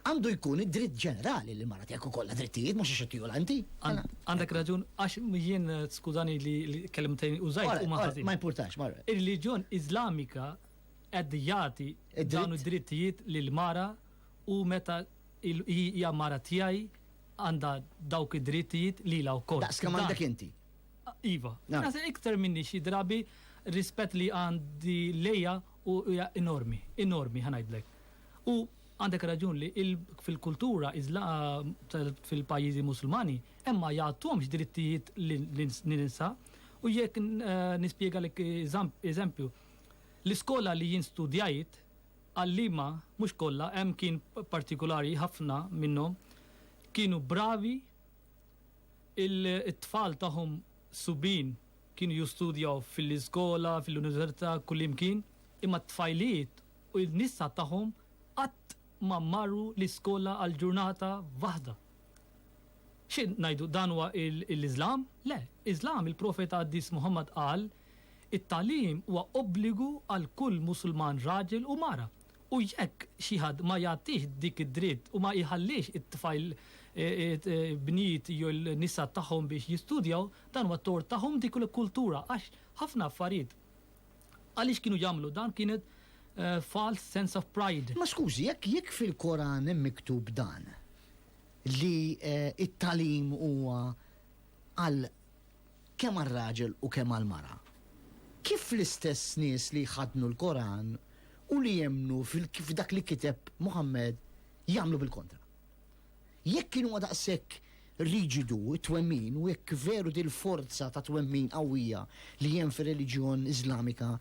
Għandu jkun id-dritt ġenerali li l-mara tiegħek ikollha drittijiet mhux għax qed tiola inti. Għandek raġun għax jien skużani li l-kelmtejn użajt huma ħażin. Ma jimpurtax, ma. Ir-reliġjon Iżlamika qed jagħti dawn id-drittijiet lill-mara u meta hija mara tiegħi għandha dawk id-drittijiet lilha wkoll. Daqs kemm għandek inti. Iva. Iktar minni xi drabi rispett li għandi lejha U hija enormi, enormi ħa ngħidlek. U għandek raġun li fil-kultura iżla fil-pajjiżi Musulmani hemm ma jagħtuhomx drittijiet lin-nisa u jekk nispjegalek eżempju, l-iskola li jien studjajt, għalliema, mhux kollha, hemm kien partikulari ħafna minnhom, kienu bravi, it-tfal tagħhom subien, Kienu jistudjaw fil-iskola, fil-università, kullimkien, imma t-tfajliet u n-nisa tagħhom qatt ma marru l-iskola għal ġurnata waħda. Xi ngħidu, dan huwa l-Iżlam? Le, Iżlam, il-Profeta Qaddis Muħammad qal, It-tagħlim huwa obbligu għal kull Musulman raġel u mara. U jekk xi ħadd ma jagħtix dik id-dritt u ma jħallix it-tfajl bniet jew il-nisa tagħhom biex jistudjaw, dan huwa tort tagħhom dik il-kultura għax ħafna affarijiet għaliex kienu jagħmlu dan kienet false sense of pride. Imma skużi, jekk jekk fil-Koran hemm miktub dan, li t-tagħlim huwa għal kemm għar-raġel u kemm għall-mara. Kif l-istess nies li jħaddnu l-Koran u li jemmnu f'dak li kiteb Muħammad jagħmlu bil-kontra. Jekk kien huwa daqshekk riġidu t-twemmin u jekk veru dil-forza ta' twemmin qawwija li hemm fir-reliġjon Iżlamika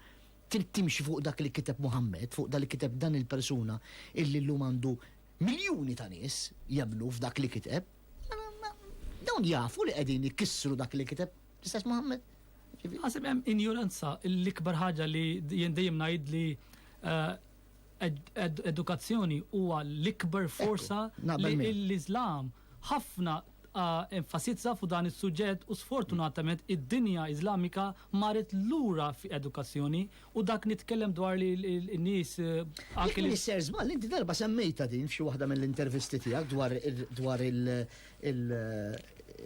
trid timxi fuq dak li kiteb Muħammad, fuq dak li kiteb dan il-persuna illi llum għandu miljuni ta' nies jemmnu f'dak li kiteb, Dawn jafu li qegħdin ikissru dak li kiteb l-istess Muhammad. Għasib hemm injuranza l-ikbar ħaġa li jien dejjem ngħid li eh, edukazzjoni huwa l-ikbar forsa li l-Islam ħafna eh, enfasizza fuq dan is-suġġett u sfortunatament id-dinja Islamika marret lura fi edukazzjoni U dak nitkellem dwar li n-nies anke li. Ser żball, inti darba semmejta din f'xi waħda mill-intervisti tiegħek dwar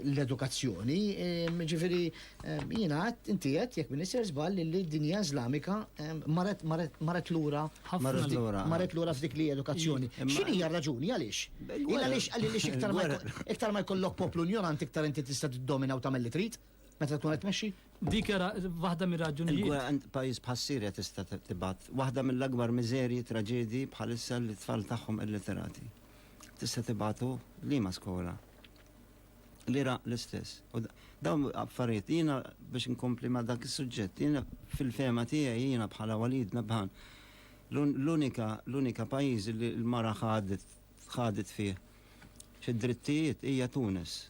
l-edukazzjoni. Ehm, ġifieri ehm, jiena għad inti qed jekk minn ser żball li d-dinja Iżlamika ehm, marret lura marret lura f'dik li edukazzjoni. X'inhi hija raġuni għaliex? Għaliex għaliex iktar ma jkollok poplu ignorant iktar inti tista' tiddomina u tagħmel li trid. Meta tkun qed tmexxi? Dik era waħda mir-raġunijiet. Il-gwerra għand pajjiż bħas-Sirja tista' tibgħat waħda mill-akbar miżerji, traġedji bħalissa li tfal tagħhom illiterati. Tista' tibgħatu liema skola. L-Iraq l-istess. U dawn affarijiet jiena biex inkompli ma' dak is-suġġett, jiena fil-fema tiegħi jiena bħala Walid Nabhan l-unika l-unika pajjiż li l-mara ħadet ħadet fih fid-drittijiet hija Tunis.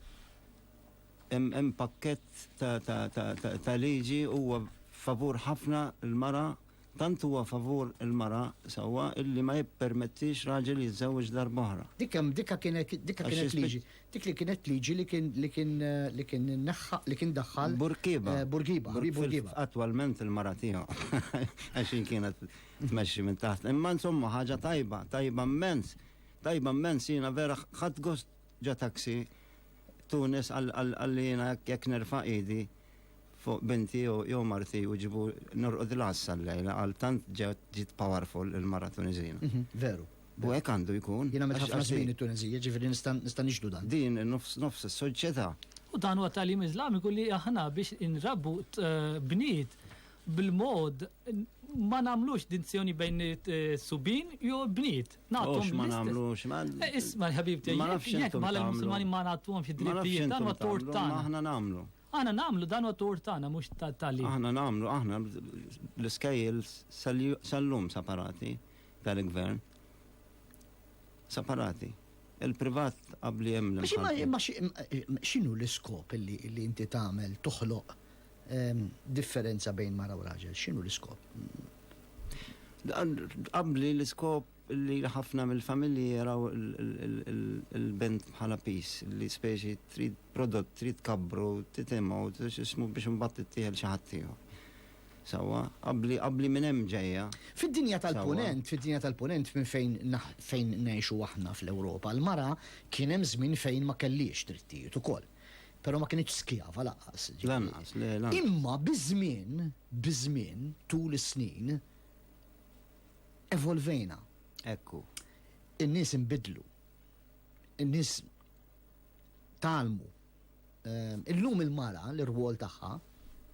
Hemm pakkett ta' liġi huwa favur ħafna l-mara, tant huwa favur il-mara sewwa illi ma jippermettix raġel jiżżewweġ darba oħra. Dikha kienet liġi. Dik li kienet liġi li kien li kien li kien neħħa li kien daħħal. Bourguiba. Bourguiba, Henri Bourguiba. Attwalment il-mara tiegħu għax hi kienet tmexxi minn taħt. Imma insomma ħaġa tajba, tajba mmens. Tajba mmens jiena vera ħadt gost Ġa taxi, Tunis qalli jiena jekk nerfa' idi fuq binti jew marti u ġibu norqod l-għassa l-lejla qal tant ġiet powerful il-mara Tuniżina. Veru. U hekk għandu jkun. Jiena għamilt ħafna żmien it-Tunisija, jiġifieri nista' nixhdu dan. Din hi nofs nofs is-soċjetà. U dan huwa t-tagħlim Iżlamiku li aħna biex inrabbu bniet bil-mod ma nagħmlux dinzjoni bejn subin jew bniet. Nagħtu ma nagħmlux. Isma' ħabibti, ma nafx jekk bħala l-Musulmani ma nagħtuhomx id-drittijiet dan huwa tort tagħna. Aħna nagħmlu. Aħna nagħmlu dan huwa tort tagħna mhux tal-li. Aħna nagħmlu, aħna l-iskejjel sal-lum separati tal-gvern. Separati. Il-privat qabli hemm. X'inhu l-iskop li inti tagħmel toħloq Differenza bejn mara u raġel, x'inhu l-iskop? Tqabbli l-iskop li ħafna mill-familji jaraw il-bent bħala piż, li speċi trid prodott, trid tkabbru, titimgħu, x'ismu biex imbagħad tittieħel xi ħadd ieħor. Sewwa, qabbli qabbli minn hemm ġejja. Fid-dinja tal-Punent, fid-dinja tal-Punent minn fejn fejn ngħixu aħna fl-Ewropa, l-mara kien hemm żmien fejn ma kellhiex drittijiet ukoll. Però ma kinitx skjava lanqas. Lanqas, le, lanqas. Imma biż-żmien, biż-żmien, tul is-snin, evolvejna. Ekku. In-nies inbidlu. In-nies talmu. Ehm, illum il-mara, l-irwol tagħha,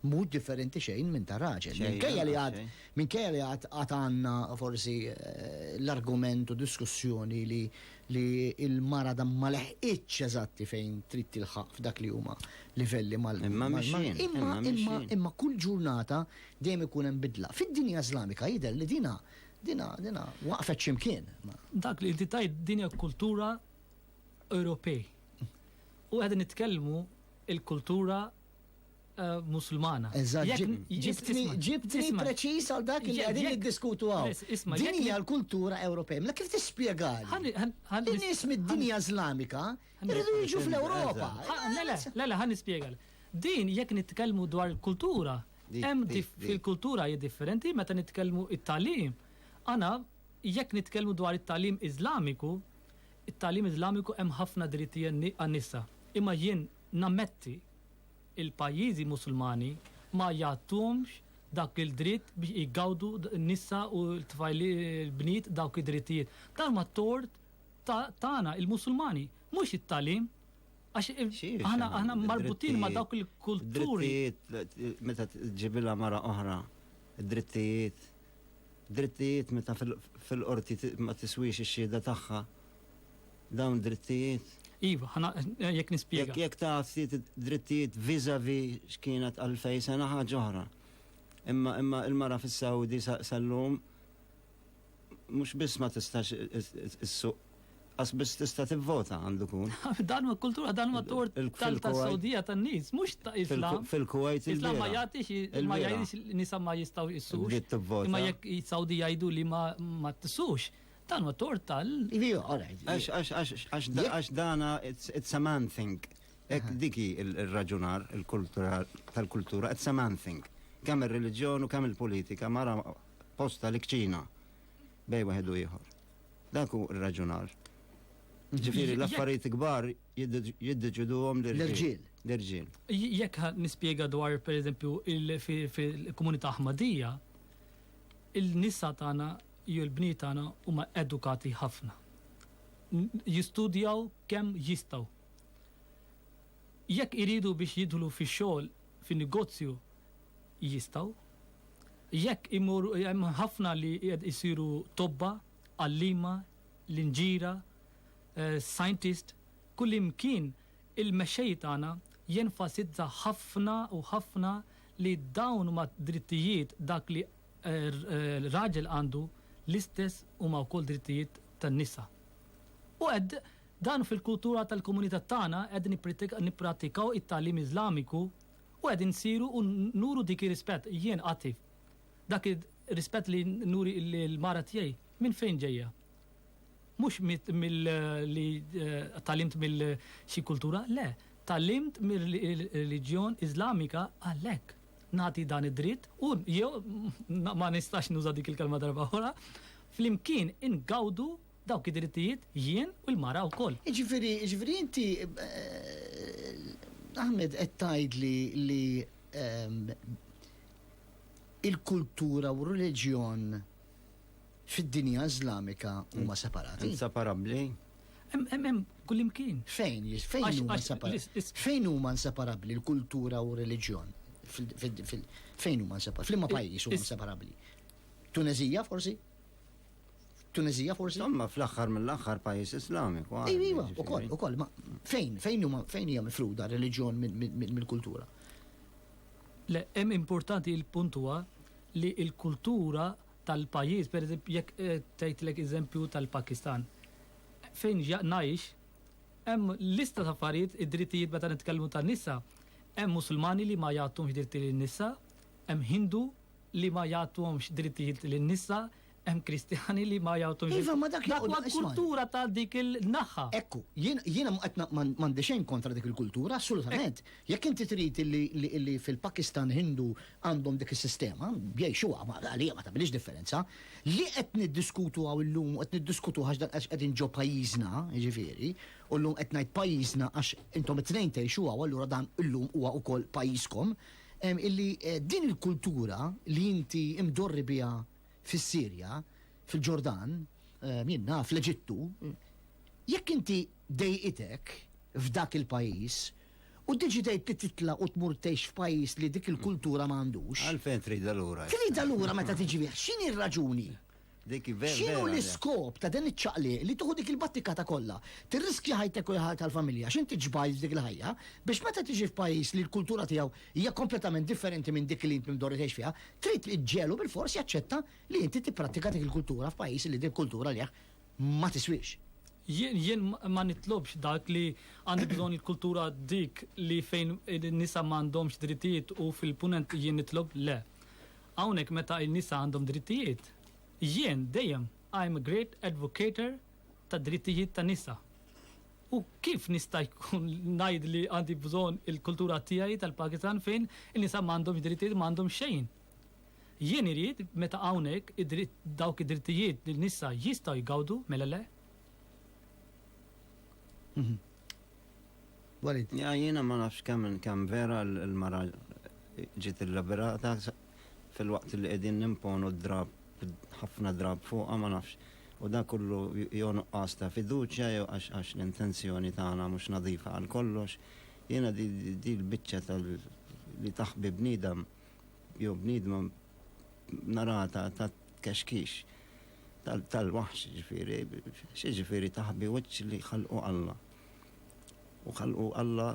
Mhux differenti xejn minn ta' raġel. Minkejja li għad minkejja li għad għad għandna forsi l-argument u diskussjoni li li l-mara da ma leħqitx eżatti fejn trid tilħaq f'dak li huma livelli mal Imma mixjin, imma mixjin. Imma kull ġurnata dejjem ikun hemm bidla. Fid-dinja Iżlamika jidher li dinha dinha dinha waqfet xi mkien. Dak li inti tgħid din hija kultura Ewropej. U qegħdin nitkellmu l-kultura Eh, musulmana. Ġibtni ġibtni preċis għal dak li għadin niddiskutu għaw. Din hija l-kultura Ewropej. Ma kif tispjegali? In-nies mid-dinja Islamika jridu jiġu fl-Ewropa. Lele, lele, ħan nispjegal. Din jekk nitkellmu dwar il-kultura, hemm fil-kultura hija differenti meta nitkellmu it-talim. Ana jekk nitkellmu dwar it-talim Iżlamiku, it-talim Iżlamiku hemm ħafna drittijiet għan-nisa. Imma jien Nammetti, il-pajjiżi Musulmani ma jagħtuhomx dak il-dritt biex igawdu n-nisa u l-bniet dawk id-drittijiet. Dan huwa t-tort tagħna, il-Musulmani, mhux it-tagħlim. Għax aħna marbutin ma' dawk il-kulturi. Drittijiet meta tġibilha mara oħra, drittijiet. Drittijiet meta fil-qorti ma tiswix ix-xhieda tagħha. dawn drittijiet? Iva, ħa jekk nispjega. Jekk ta' ftit drittijiet vizavi x'kienet għal fej sena ħaġa oħra. Imma imma il-mara fis-Sawdi sal-lum mhux biss ma tistax is-suq Għas biss tista' tivvota għandu kun. Dan ma kultura, dan ma tort tal-Saudija tan-nies, mhux ta' Islam. Fil-Kuwait Islam ma jagħtix ma jgħidx nisa ma jistgħu jissux. Imma jekk Saudija jgħidu li ma tissux, Dan u tort tal. Li, all right. Għax dana, it's a man thing. Ek diki il-raġunar tal-kultura, it's a man thing. Kemm il-reġjon u kemm il-politika mara posta li kċina bej waħed u ieħor. Dak hu r-raġunar. Ġifiri, l-affarijiet kbar jiddeċidu għom l-irġiel. L-irġiel. Jekk nispiega dwar, per eżempju, il-komunità ħmadija, il-nisa tagħna Jew il-bniet tagħna huma edukati ħafna. Jistudjaw kemm jistgħu. Jekk iridu biex jidħlu fix-xogħol fin-negozju, jistgħu. Jekk imorru hemm ħafna li jsiru tobba, għalliema, linġiera, scientist, kullimkien il-mexxej tagħna jenfasizza ħafna u ħafna li dawn huma drittijiet dak li raġel għandu l-istess huma wkoll drittijiet tan-nisa. U qed dan fil-kultura tal-komunità tagħna qegħdin nippratikaw it-tagħlim Iżlamiku u qegħdin nsiru u nuru dik ir-rispett. Jien qati dak ir-rispett li nuri l-mara tiegħi minn fejn ġejja? Mhux mill li talimt mill xi kultura, le, talimt mir-reliġjon Iżlamika għalhekk. nagħti dan id-dritt u jew ma nistax nuża dik il-kelma darba oħra, flimkien ingawdu dawk id-drittijiet jien u l-mara wkoll. Jiġifieri, jiġifieri inti eh, Ahmed qed tgħidli li ehm, il-kultura u r-reliġjon fid-dinja Iżlamika huma separati. Inseparabbli. Hemm kullimkien. Fejn? Fejn huma inseparabbli? Fejn huma inseparabbli l-kultura u r-reliġjon? Fejn huma inseparabbli? Flimma pajjiż huma inseparabbli? Tunezija forsi? Tunezija forsi? Imma fl-aħħar mill-aħħar pajjiż Islamiku. Iva, ukoll, ukoll, ma fejn, fejn huma fejn hija mifruda r-reliġjon mill-kultura? Le, hemm importanti l-punt huwa li l-kultura tal-pajjiż, pereżempju jekk tgħidlek eżempju tal-Pakistan, fejn ngħix, hemm lista ta' affarijiet, id-drittijiet meta nitkellmu tan-nisa, hemm Musulmani li ma jagħtuhomx dritti lin-nisa, hemm Hindu li ma jagħtuhomx drittijiet lin-nisa, hemm Kristjani li ma jagħtuhomx. Iva, ma dak huwa l-kultura ta' dik il-naħa. Ekku, jiena ma qed ma għandi xejn kontra dik il-kultura, assolutament. Jekk inti trid li fil-Pakistan Hindu għandhom dik is-sistema, jgħixuha, għalija ma tagħmilix differenza. Li qed niddiskutu hawn illum u qed niddiskutuh għax dan għax qegħdin ġo pajjiżna, jiġifieri, u llum qed ngħid pajjiżna għax intom it-tnejn tgħixuha u allura dan illum huwa wkoll pajjiżkom, illi din il-kultura li inti imdorri biha fis-Sirja, fil-Ġordan, jien naf, l-Eġittu, jekk inti dejqitek f'dak il-pajjiż, U ddeċidejt li titla' u tmur tgħix f'pajjiż li dik il-kultura ma għandux. Għalfejn tridha lura? Tridha lura meta tiġi bih. X'inhi r-raġuni? X'inhu l-iskop ta' dan iċ-ċaqliq li tieħu dik il-battikata kollha, tirriskja ħajtek u l-ħajja tal-familja għax inti ġbajt f'dik il-ħajja, biex meta tiġi f'pajjiż li l-kultura tiegħu hija kompletament differenti minn dik li int mdorri tgħix fiha, trid iġġegħlu bilfors jaċċetta li inti tipprattika dik il-kultura f'pajjiż li din kultura lejh ma tiswiex. Jien jien ma nitlobx dak li għandu bżonn il-kultura dik li fejn in-nisa ma għandhomx drittijiet u fil-Punent jien nitlob le. Hawnhekk meta n-nisa għandhom drittijiet, jien dejjem I'm a great advocator tad-drittijiet tan-nisa. U kif nista' jkun ngħid li għandi bżonn il-kultura tiegħi tal-Pakistan fejn in-nisa ma għandhomx drittijiet, ma għandhom xejn. Jien irid, meta hawnhekk, id-dritt, dawk id-drittijiet li n-nisa jistgħu jgawdu, mela le? Walid. Ja, jiena ma nafx kemm kemm vera l-mara ġiet illiberata filwaqt li qegħdin nimponu d-drapp, ħafna drapp fuqha ma nafx. U dan kollu jew nuqqas ta' fiduċja jew għax għax l-intenzjoni tagħna mhux nadifa għal kollox. Jiena di di l-biċċa tal li taħbi bniedem jew bniedma narata ta' kexkix tal-waħx ġifiri, xie ġifiri taħbi wiċċ li ħalqu Alla. U ħalqu Alla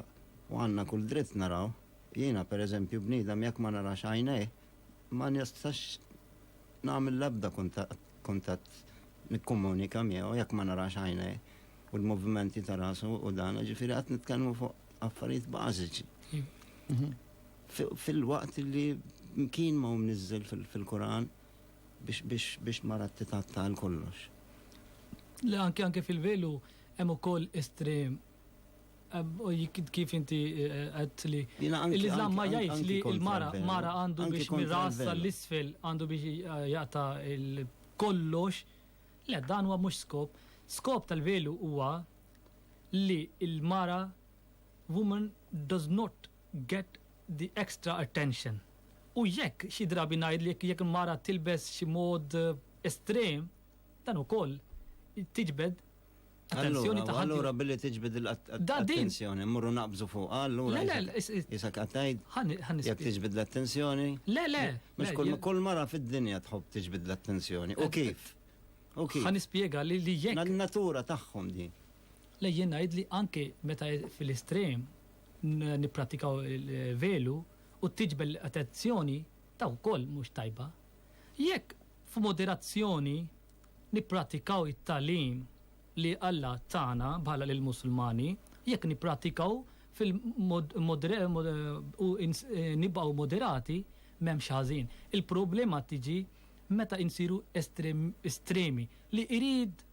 u għanna kull dritt naraw, jiena per eżempju bniedem jekk ma narax għajnej, ma nistax nagħmel l-ebda kuntatt nikkomunika miegħu jekk ma narax għajnej u l-movimenti ta' rasu u dan, ġifiri qed nitkellmu fuq affarijiet bażiċi. Mhm. Filwaqt li mkien ma hu mniżżel fil-Quran biex mara titgħatta għal kollox. Le anke anke fil-velu hemm ukoll estrem kif inti għedt li l-Iżlam ma jgħidx li l-mara mara għandu biex mir-ras sal-isfel għandu biex jaqta' kollox. Le dan huwa mhux skop. Skop tal-velu huwa li l-mara woman does not get the extra attention. U jekk xi drabi ngħid li jekk il-mara tilbes xi mod estrem, dan ukoll tiġbed attenzjoni ta' Allura billi tiġbed l-attenzjoni, mmorru naqbżu fuq, allura. Le, le, jisak għattajt. Jekk tiġbed l-attenzjoni. Le, le. Mux kull mara fid-dinja tħobb tiġbed l-attenzjoni. U kif? U kif? Għan ispiega li li jekk. Natura tagħhom di. Le jien ngħid li anke meta fil-estrem nipprattikaw il-velu u t-tiġbel l-attenzjoni ta' wkoll mhux tajba. Jekk f'moderazzjoni nipprattikaw it-tagħlim li Alla tana bħala lill-Musulmani, jekk nipprattikaw u nibqgħu moderati m'hemm xi ħażin. Il-problema tiġi meta insiru estremi li jrid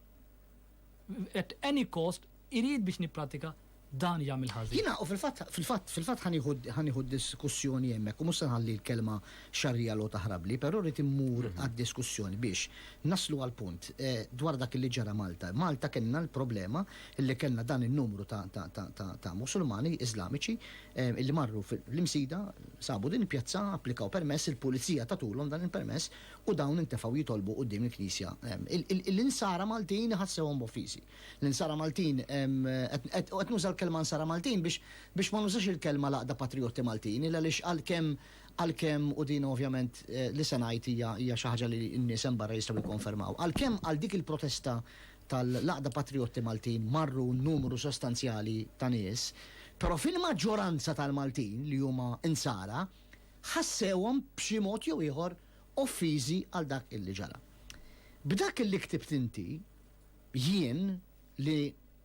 at any cost irid biex nipprattika dan jagħmel ħażin. Jiena u fil-fatt fil-fatt fil-fatt ħa nieħu ħa nieħu d-diskussjoni hemmhekk u mhux se nħalli l-kelma xarrija logħob taħrabli, però rrid immur għad-diskussjoni biex naslu għall-punt dwar dak li ġara Malta. Malta kellna l-problema li kellna dan in-numru ta' ta' ta' ta' ta' Musulmani Iżlamiċi li marru fl-Imsida, sabu din il-pjazza, applikaw permess, il-Pulizija tatulhom dan il-permess u dawn intefgħu jitolbu quddiem il-Knisja. L-Insara Maltin iħassewhom b'offiżi. L-Insara Maltin, u qed nuża l-kelma Insara Maltin biex ma nużax il-kelma l-Għaqda Patrijotti Maltin, il għaliex għalkemm għalkemm u din ovvjament li se ngħid hija hija xi ħaġa li n-nies hemm barra jistgħu jikkonfermaw, għalkemm għal dik il-protesta tal-Għaqda Patrijotti Maltin marru numru sostanzjali ta' nies, però fil-maġġoranza tal-Maltin li huma Insara ħassewhom b'xi mod jew ieħor offiżi għal dak illi ġara. B'dak illi ktibt inti, jien, li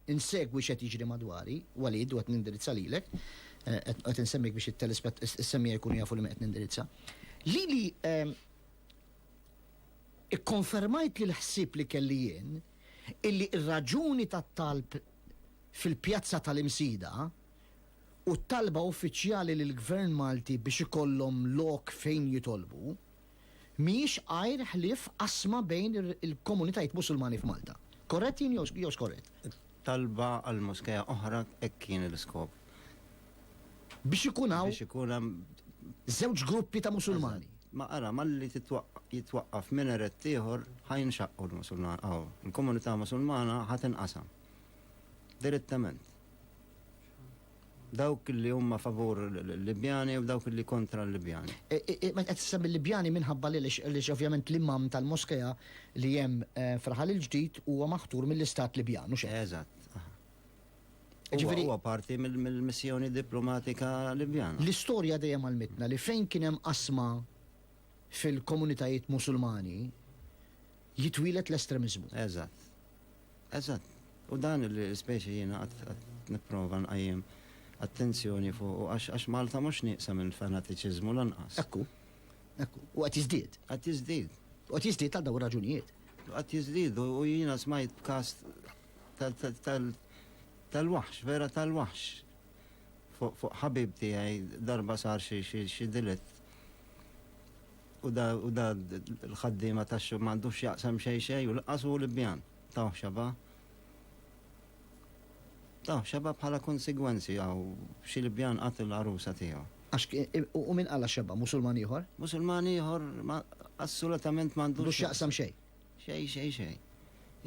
nsegwi x'qed jiġri madwari, Walid, u qed nindirizza lilek, qed insemmik biex is-semmija jkunu jafu li min qed nindirizza, lili kkonfermajt li l-ħsieb li kelli jien illi r-raġuni tat-talb fil-pjazza tal-Imsida u t-talba uffiċjali lill-Gvern Malti biex ikollhom lok fejn jitolbu, mhijiex għajr ħlief qasma bejn il-komunitajiet Musulmani f'Malta. Korrett jien jew skorrett? Talba għal moskea oħra hekk kien l-iskop. Biex ikun hawn. Biex ikun hemm. Żewġ gruppi ta' Musulmani. Ma ara, malli jitwaqqaf minaret ieħor ħa jinxaqqu l-Musulmani. Aw, il-komunità Musulmana ħa tinqasam. Direttament. Dawk li huma favur l-Libjani u dawk li kontra l-Libjani. E, e, e, qed tisem il-Libjani minħabba li għaliex ovvjament l-imam tal-moskea li hemm eh, fraħal il-ġdid huwa maħtur mill-istat Libjan u xejn. Eżatt. Ġifieri huwa parti mill-missjoni diplomatika Libjana. L-istorja dejjem għalmitna li fejn kien hemm qasma fil-komunitajiet Musulmani jitwilet l-estremizmu. Eżatt. Eżatt. U dan li speċi jiena qatt nipprova nqajjem attenzjoni fuqu għax Malta mhux nieqsa minn fanatiċiżmu lanqas. Ekku. Ekku. U qed jiżdied. Qed jiżdied. U qed jiżdied għal dawn ir-raġunijiet. Qed jiżdied u jiena smajt b'każ tal-waħx, vera tal-waħx. Fuq ħabib tiegħi darba sar xi delitt. U da, u da l-ħaddiema tax-xogħol m'għandux x'jaqsam xejn xejn u lanqas hu l-ibbjan. Tawh x'aba? Tawh x'aba bħala konsegwenzi hawn xi l-ibbjan qatt il-għarusa tiegħu. Għax, u min qalha x'aba? Musulman ieħor? Musulman ieħor ma, assolutament m'għandux. M'għandux x'jaqsam xejn. Xejn, xejn, xejn.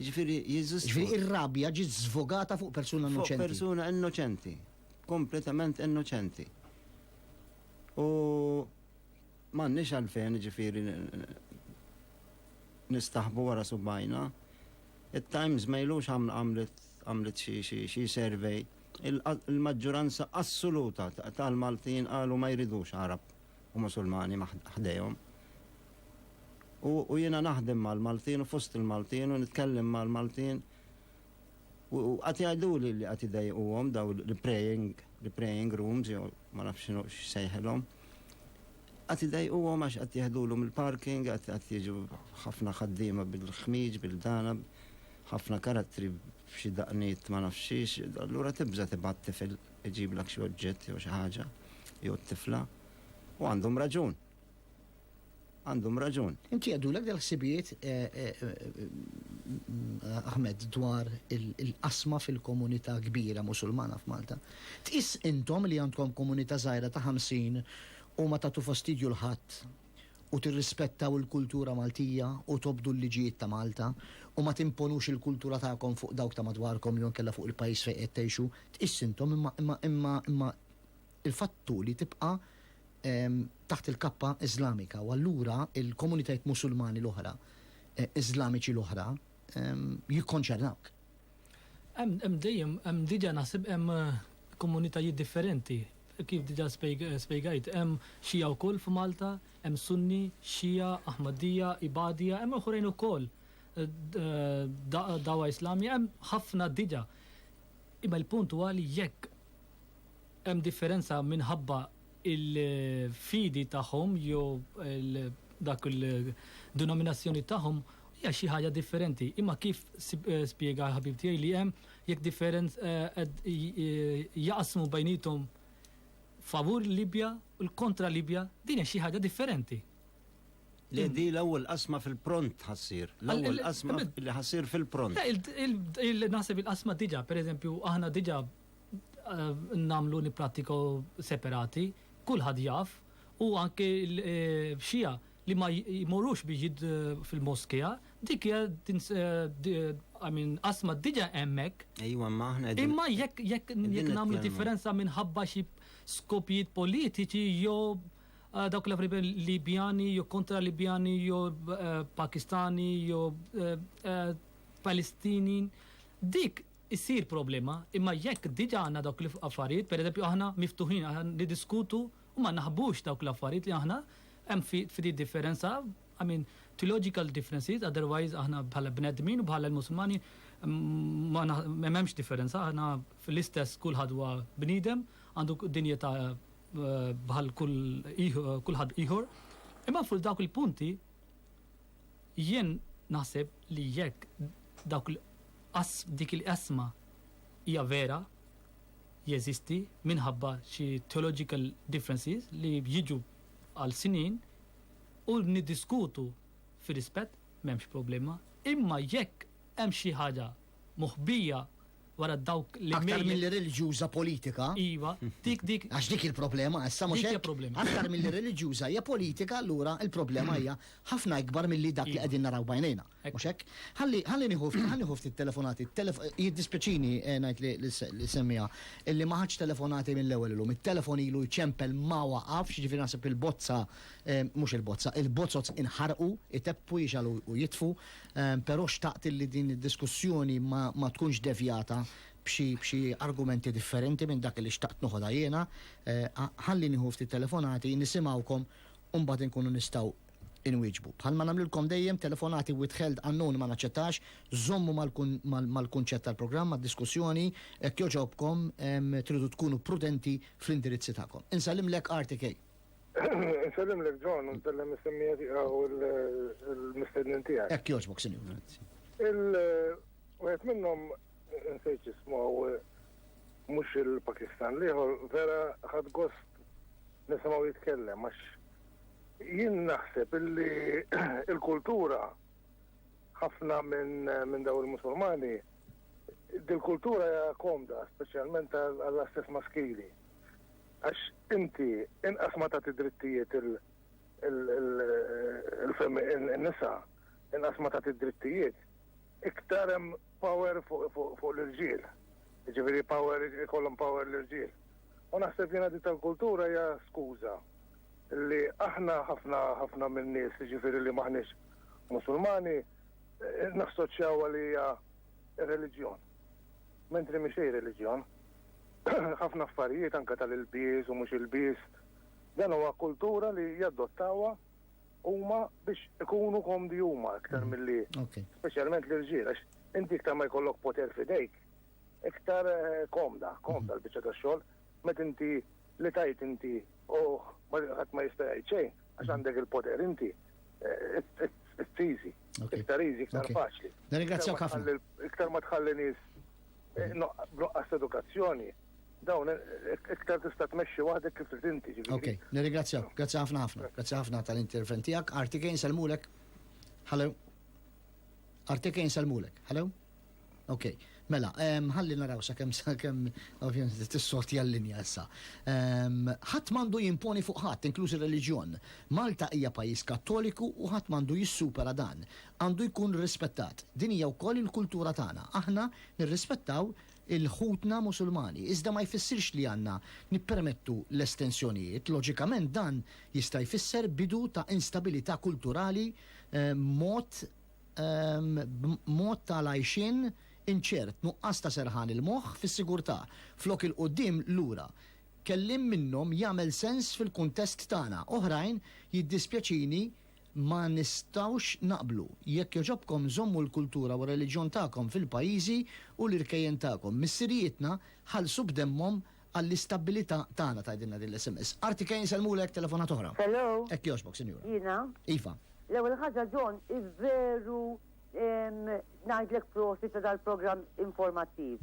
Jiġifieri Jeżus. Jiġifieri ir-rabja ġiet żvogata fuq persuna innoċenti. Fuq persuna innoċenti. Kompletament innoċenti. U M'għandniex għalfejn jiġifieri nistaħbu wara subgħajna. It-Times ma ilux għamlet xi survey. Il-maġġuranza assoluta tal-Maltin qalu ma jridux Għarab u Musulmani ħdejhom. U jiena naħdem mal-Maltin u fost il-Maltin u nitkellem mal-Maltin. U qatt jgħiduli li qatt idejquhom daw l-praying, l-praying rooms jew ma nafx x'inhu x'sejħilhom. Qatt idejquhom għax qatt jeħdulhom il-parking, qatt qatt jiġu ħafna ħaddiema bil-ħmieġ, bil-dana, ħafna karattri b'xi daqniet ma nafx xiex, allura tibża' tibgħat tifel iġiblek xi oġġett jew xi ħaġa jew t-tifla. U għandhom raġun. Għandhom raġun. Inti jgħaddulek dal-ħsibijiet Ahmed dwar il-qasma fil-komunità kbira Musulmana f'Malta? Tqis intom li għandkom komunità żgħira ta' 50 u ma tagħtu fastidju 'l ħadd u tirrispettaw il-kultura Maltija u tobdu l-liġijiet ta' Malta u ma timponux il-kultura tagħkom fuq dawk ta' madwarkom jew inkella fuq il-pajjiż fejn qed tgħixu? Tqis intom imma imma imma imma Il-fatt hu li tibqa' taħt il-kappa Iżlamika u allura l-komunitajiet Musulmani l-oħra, Iżlamiċi l-oħra, jikkonċernawk. Hemm, hemm dejjem, hemm diġà naħseb hemm komunitajiet differenti. Kif diġà spjegajt, hemm Xija wkoll f'Malta, hemm Sunni, Xija, Aħmaddija, Ibadija, hemm oħrajn ukoll, Dagħwa Islami, hemm ħafna diġà. Imma l-punt huwa li jekk Hemm differenza minħabba il-fidi tagħhom jew dak il-denominazzjoni tagħhom hija xi ħaġa differenti. Imma kif spjega l-ħabib tiegħi li hemm jekk differenz jaqsmu bejniethom favur Libja u l-kontra Libja, din hija xi ħaġa differenti. Le di l-ewwel qasma fil-pront ħassir. L-ewwel qasma li ħassir fil-pront. Naħseb il-qasma diġà, pereżempju, aħna diġà nagħmlu nipprattikaw separati, kulħadd jaf u anke l-Xija li ma jmorrux biex jid fil-moskea, dik hija I mean qasma diġà hemmhekk. Ejwa ma aħna Imma jekk jekk nagħmlu differenza minħabba xi skopijiet politiċi jew Eh, dawk l afriben Libjani, jew kontra Libjani, jew eh, Pakistani, jew eh, Palestini. Dik issir problema, imma jekk diġà għandna dawk l-affarijiet, pereżempju aħna miftuħin, aħna niddiskutu u ma naħbux dawk l-affarijiet li aħna hemm ftit differenza, I mean, theological differences, otherwise aħna bħala bnedmin u bħala l-Musulmani m'hemmx differenza, aħna l-istess kulħadd huwa bniedem, għandu dinjità bħal kulħadd ieħor. Imma fuq dawk il-punti, Jien naħseb li jekk dawk il dik il-qasma hija vera, jeżisti minħabba xi theological differences li jiġu għal snin u niddiskutu fir-rispett m'hemmx problema, imma jekk hemm xi ħaġa moħbija wara dawk li. Aktar milli reliġjuża politika. Iva, dik dik. Għax dik il-problema issa mhux hekk. problema. Aktar milli reliġjuża hija politika allura il-problema hija ħafna ikbar milli dak li iva. qegħdin naraw bajnejna. Mhux hekk? Ħalli ħalli nieħu ħalli nieħu ftit telefonati. Jiddispjaċini eh, ngħid li semmiha illi ma ħadx telefonati mill-ewwel illum. It-telefon ilu jċempel ma waqafx, ġifieri naħseb il-bozza eh, mhux il-bozza, il-bozzot inħarqu, iteppu jixalu u jitfu. Però xtaqt illi din id-diskussjoni ma tkunx devjata b'xi argumenti differenti minn dak li xtaqt noħodha jiena. Ħalli nieħu ftit telefonati, nisimgħukom u mbagħad inkunu nistgħu inwieġbu. Bħalma nagħmlilkom dejjem, telefonati withheld unknown ma naċċettax, żommu mal-kunċett tal-programm, mad-diskussjoni, hekk jogħġobkom tridu tkunu prudenti fl-indirizzi tagħkom. Insallimlek RTK. Nsellim l John, nsellim is-semmija tiegħu l-mistednin tiegħek. Hekk jogħġbok, sinjur. Il-wieħed minnhom nsejt jismu mhux il-Pakistan liħor vera ħad gost nisimgħu jitkellem għax jien naħseb illi il-kultura ħafna minn daw il-Musulmani dil-kultura hija komda, speċjalment għall-istess maskili Għax inti inqas ma tagħti drittijiet il-nisa, inqas ma tagħti drittijiet, iktar hemm power fuq l-irġiel. Ġifieri power ikollhom power l-irġiel. U naħseb jiena di tal-kultura hija skuża li aħna ħafna ħafna minn nies ġifieri li maħniex Musulmani eh, nassoċjaw għalija reliġjon. Mentri mhix reliġjon. ħafna affarijiet anke tal-ilbies u mhux ilbies, dan huwa kultura li jadottawha huma biex ikunu komdi huma aktar mm. milli speċjalment l-irġiel għax inti iktar ma jkollok poter fidejk iktar eh, komda, komda mm. l-biċċa tax-xogħol met inti li tajt inti u ħadd ma jista' jgħid xejn għax mm. għandek il-poter inti eh, it's easy. Iktar easy, iktar faċli. Nirringrazzjak ħafna. Iktar ma tħalli nies B'nuqqas ta' edukazzjoni, dawn iktar tista' tmexxi waħdek kif trid inti. Ok, nirringrazzjak. Grazzi ħafna ħafna. Grazzi ħafna tal-intervent tiegħek. Artike nselmulek. Hello. Artike nselmulek. Hello. Ok, mela, ħalli naraw sa' kem sa' kem, ovvijament, t-sorti għall-linja issa. ħat mandu jimponi fuq ħat, inkluż il-reġjon. Malta hija pajis kattoliku u ħat mandu jissupera dan. għandu jkun rispettat. Din hija wkoll il-kultura tagħna. Aħna nirrispettaw il ħutna Musulmani, iżda ma jfissirx li għandna nippermettu l-estensjonijiet. Loġikament dan jista' jfisser bidu ta' instabilità kulturali mod mod ta' l-għajxien inċert, nuqqas ta' serħan il-moħħ fis-sigurtà, flok il-quddiem lura. Kelliem minnhom jagħmel sens fil-kuntest tagħna, oħrajn jiddispjaċini Ma nistgħux naqblu. Jekk jogħġobkom żommu l-kultura u r-reliġjon tagħkom fil-pajjiżi u l-irkejjen tagħkom. Missirijietna ħallsu b'demmhom għall-istabbilità tagħna tgħidilna din l-sms. Arti Kane isellmulek telefonata oħra. Hello. Hekk jogħġbok sinjura. Jiena? Iva. L-ewwel ħaġa John veru ngħidlek prosit ta' dal-programm informattiv.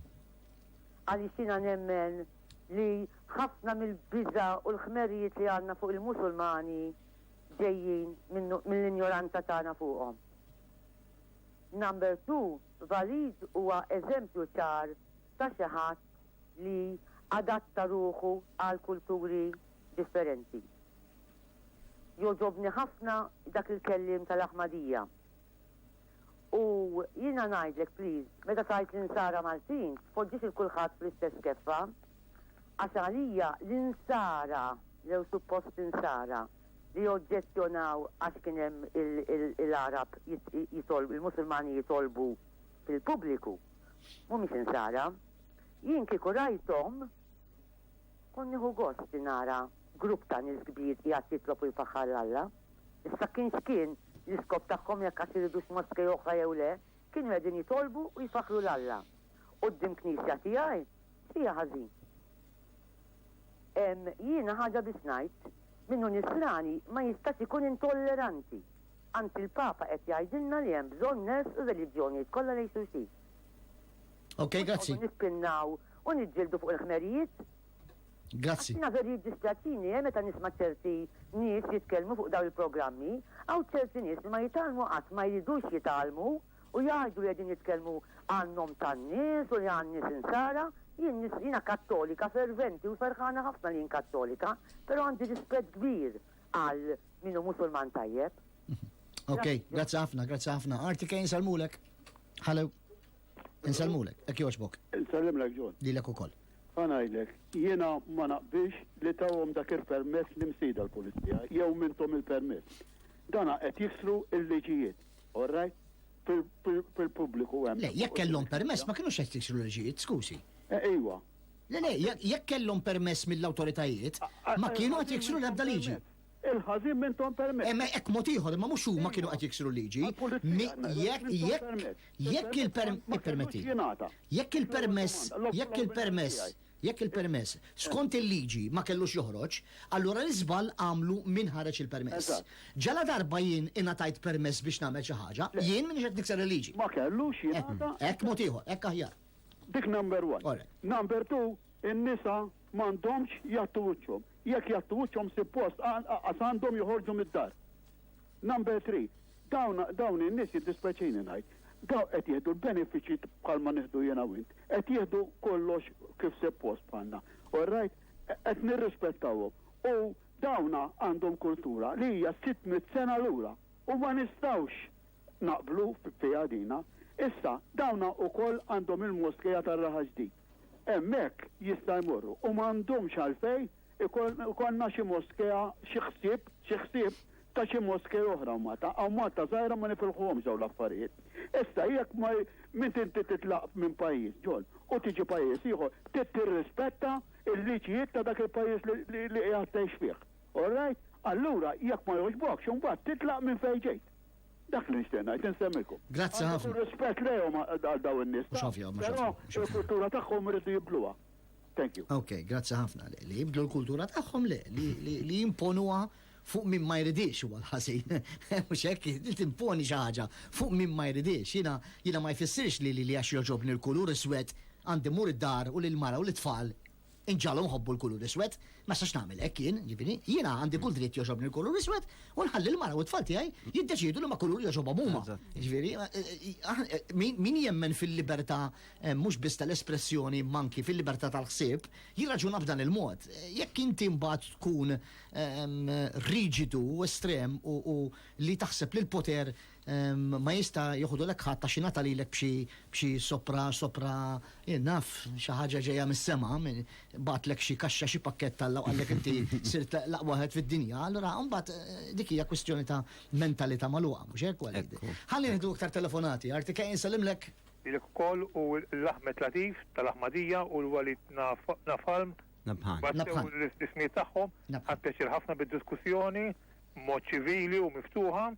Għaliex jiena nemmen li ħafna mill-biża' u l-ħmerijiet li għandna fuq il-Musulmani ġejjin mill-injoranza tagħna fuqhom. Number two, Walid huwa eżempju ċar ta' xi ħadd li adatta ruħu għal kulturi differenti. Jogħġobni ħafna dak il-kelliem tal-Aħmadija. U jiena ngħidlek please, meta tgħid l-insara Maltin, tpoġġix lil kulħadd fl-istess keffa. Għax għalija l-insara, jew suppost insara, li oġġezzjonaw għax kien hemm il-Għarab jitolbu, il-Musulmani jitolbu fil-pubbliku, mhumiex insara. Jien kieku rajthom, kont nieħu gost li nara grupp ta' nies kbir qiegħed jitlob u jfaħħar 'l Alla. Issa kien x'kien, L-iskop tagħhom, jekk għad iridux moskej oħra jew le, kienu qegħdin jitolbu u jfaħħru 'l Alla. Quddiem knisja tiegħi? Fiha ħażin. Ehm, jiena ħaġa biss ngħid, min hu nisrani ma jistax ikun intolleranti. Anzi l-Papa qed jgħidilna li hemm bżonn ners u reliġjonijiet kollha lejn xulxin. Ok, grazzi. Nispinnaw u niġġieldu fuq il-ħmerijiet Grazzi. Jiena veru jiddispjaċini eh meta nisma' ċerti nies jitkellmu fuq dawn il-programmi, hawn ċerti nies li ma jitgħallmu qatt ma jridux jitgħallmu u jgħidu li qegħdin jitkellmu għan-nom tan-nies u li għan-nies insara, jien jiena kattolika ferventi u ferħana ħafna li jien kattolika, però għandi rispett kbir għal min hu musulman tajjeb. Ok, grazzi ħafna, grazzi ħafna. Arti kejn salmulek. Hello. Insellmulek, hekk jogħġbok. Insellimlek John. Lilek ukoll. Ħa ngħidlek, jiena ma naqbilx li tawhom dak il-permess l-Imsida l-Pulizija, jew minthom il-permess. Dana qed jiksru l-liġijiet, all right? Fil-pubbliku hemm. Le, jekk kellhom permess ma kinux qed jiksru l-liġijiet, skużi. Eh, iwa. Le, le, jekk kellhom permess mill-awtoritajiet, ma kienu qed jiksru l-ebda liġi. Il-ħażin m'intom permezz. Hemm hekk mod ieħor, imma mhux huma kienu qed jiksru l-liġi. Jekk il-permess, jekk il-permess, jekk il-permess, skont il-liġi ma kellux joħroġ, allura l-iżball għamlu min ħareġ il-permess. Ġaladarba jien ingħatajt permess biex nagħmel xi ħaġa, jien m'iniex qed nikser il-liġi. Ma kellux jingħata. Hekk mod ieħor, hekk aħjar. Dik number one. Number two, in-nisa M'għandhomx jgħattu wiċċhom. Jekk jgħattu wiċċhom sippost anqas għandhom joħorġu mid-dar. Number three, dawn dawn in-nies jiddispjaċini ngħid, dawn qed jieħdu l-benefiċċji bħalma nieħdu jiena u int. Qed jieħdu kollox kif sippost bħalna. All right? Qed nirrispettawhom. U dawna għandhom kultura li hija 600 sena lura u ma nistgħux naqblu fiha dina. Issa, dawna wkoll għandhom il-moskija tar-Raħa Ġdid. Hemmhekk jista' jmorru u m'għandhomx għalfejn ikollna xi moskea, xi ħsieb, xi ħsieb ta' xi moskea oħra u Malta. Hawn Malta żgħira ma nifilħuhomx dawn l-affarijiet. Issa jekk ma meta inti titlaq minn pajjiż ġol u tiġi pajjiż ieħor trid tirrispetta l-liġijiet ta' dak il-pajjiż li qiegħed tgħix fih. All right? Allura jekk ma jogħġbokx imbagħad titlaq minn fejn ġejt. Dak li nixtieq ngħid insemmilkom. Grazzi ħafna. Għandu rispett lejhom għal daw in-nies. Mhux ovvja, mhux ovvja. Però il-kultura tagħhom iridu jibdluha. Thank you. Ok, grazzi ħafna li jibdlu l-kultura tagħhom le, li jimponuha fuq minn ma jridix u għal-ħasin. Mux hekk, li timponi xi ħaġa fuq minn ma jridix. Jiena jiena ma jfissirx li li għax joġobni l-kulur iswed għandi mur id-dar u l-mara u l-tfal Inġagħalhom iħobbu l-kulur iswed. Ma nistax nagħmel hekk jien, jiġifieri, jiena għandi kull dritt jogħġobni l-kulur iswed u nħalli l-mara u t-tfal tiegħi jiddeċiedu liema kulur jogħġobhom huma. Jiġifieri, min jemmen fil-libertà mhux biss tal-espressjoni imma anki fil-libertà tal-ħsieb, jirraġuna b'dan il-mod. Jekk inti mbagħad tkun riġidu u estrem u li taħseb li l-poter Ma jista' joħodulek ħadd għax ingħata lilek b'xi b'xi sopra sopra jien naf xi ħaġa ġejja mis-sema, bagħatlek xi kaxxa xi pakkett Alla u qallek inti sirt l-aqwa wieħed fid-dinja, allura mbagħad dik hija kwistjoni ta' mentalità magħluqa, mhux hekk Walid? Ħa nieħdu iktar telefonati, Arti Kay insellimlek. Lilek ukoll u lil Ahmed Latif tal-Aħmadija u l-Walid Napalm. Nabhan. Battew l-ismijiet tagħhom. Nabhan. Ħadt pjaċir ħafna bid-diskussjoni b'mod ċivili u miftuħa.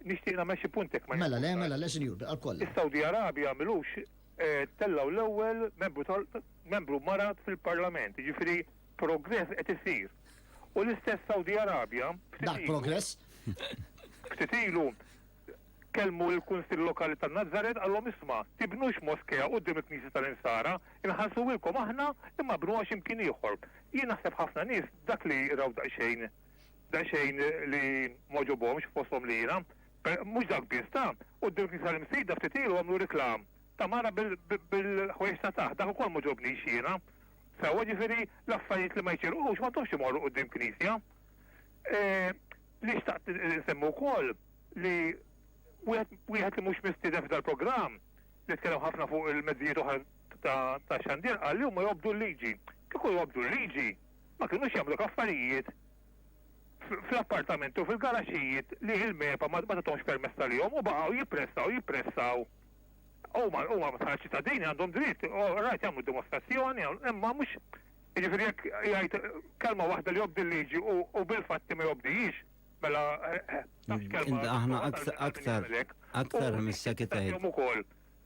Nixtieq nagħmel xi punt jekk ma Mela le, mela le, sinjur, bil-qalb kollha. Is-Sawdi Arabi għamilux eh, tellgħu l-ewwel membru tal membru mara fil-Parlament, jiġifieri progress qed isir. U l-istess Sawdi Arabja Dak progress. ftit ilu kelmu l-Kunsill Lokali ta' Nazaret għallhom isma' tibnux moskea quddiem il-Knisja tal-Insara, inħallsuwilkom aħna imma bnuha x'imkien ieħor. Jien naħseb ħafna nies dak li raw daqsxejn Daqsxejn li m'għoġobhomx fosthom li jiena. Mhux dak biss, ta! Quddiem il-knisja l-imsejda ftit ilu għamlu reklam ta' mara bil-ħwejjeġ ta' taħt, dak ukoll m'għoġobnix jiena. Sewwa, ġifieri l-affarijiet li ma jċirqux m'għandhomx imorru quddiem knisja. Li xtaqt insemmi wkoll li wieħed li mhux mistieden f'dan il-programm li tkellem ħafna fuq il-mezzijiet oħra ta' xandir qal li huma jobdu l-liġi. Kieku jobdu l-liġi ma kinux jagħmluk affarijiet fl-appartamenti u fil-garaxxijiet li il-MEPA ma tagħthomx permess għalihom u baqgħu jippressaw, jippressaw. Huma huma bħala ċittadini għandhom dritt, u rajt jagħmlu dimostrazzjoni, imma mhux jiġifieri jekk jgħid kelma waħda li jobdi l-liġi u u bil-fatti ma jobdihiex, mela eh, eh, tafx kelma. Inta aħna aktar aktar aktar mis-sekretarju. Ukoll.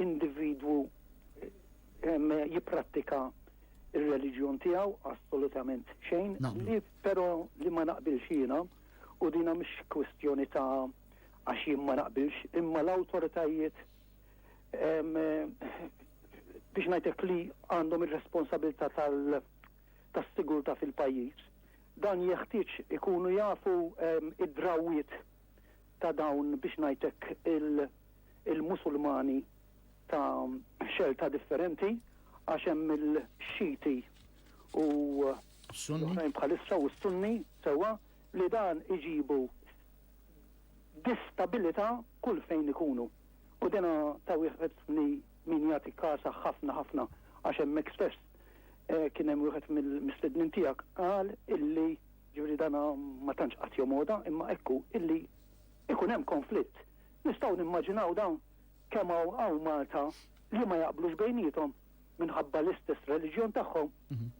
individwu jipprattika il-reliġjon tiegħu assolutament xejn, li però li ma naqbilx jiena u dina mhix kwistjoni ta' għax jien ma naqbilx, imma l-awtoritajiet biex ngħidlek li għandhom ir-responsabilità tal- tas-sigurta fil-pajjiż. Dan jeħtieġ ikunu jafu id-drawiet ta' dawn biex ngħidlek il-Musulmani ta' xelta differenti għax hemm il-Xiti u l-oħrajn bħalissa u s-Sunni sewwa li dan iġibu distabilità kull fejn ikunu. U dena ta' wieħed li min jagħti kasa ħafna ħafna għax hemmhekk stess eh, kien hemm wieħed mill-mistednin tiegħek qal illi ġifieri dana ma tantx qatt jomoda imma ekku illi ikun hemm konflitt Nistgħu nimmaġinaw dawn kemm hawn hawn Malta li ma jaqblux bejniethom minħabba l-istess reliġjon tagħhom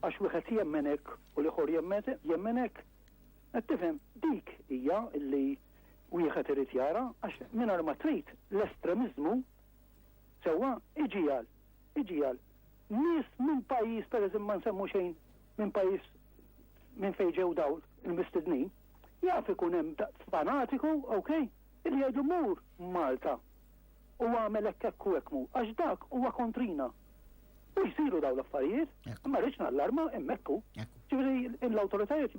għax wieħed jemmen hekk u l-ieħor jemmen hekk. Qed tifhem? Dik hija li wieħed irid jara għax mingħajr ma trid l-estremiżmu sewwa iġiegħel iġiegħel nies minn pajjiż pereżempju ma nsemmu xejn minn pajjiż minn fejn ġew dawl il-mistednin jaf ikun hemm fanatiku, okay? Li jgħidu mur Malta u agħmel hekk hekk u hekk mhu, għax dak huwa kontrina. U jsiru dawn l-affarijiet, ma rridx nallarma hemmhekk hu. Ġifieri l-awtoritajiet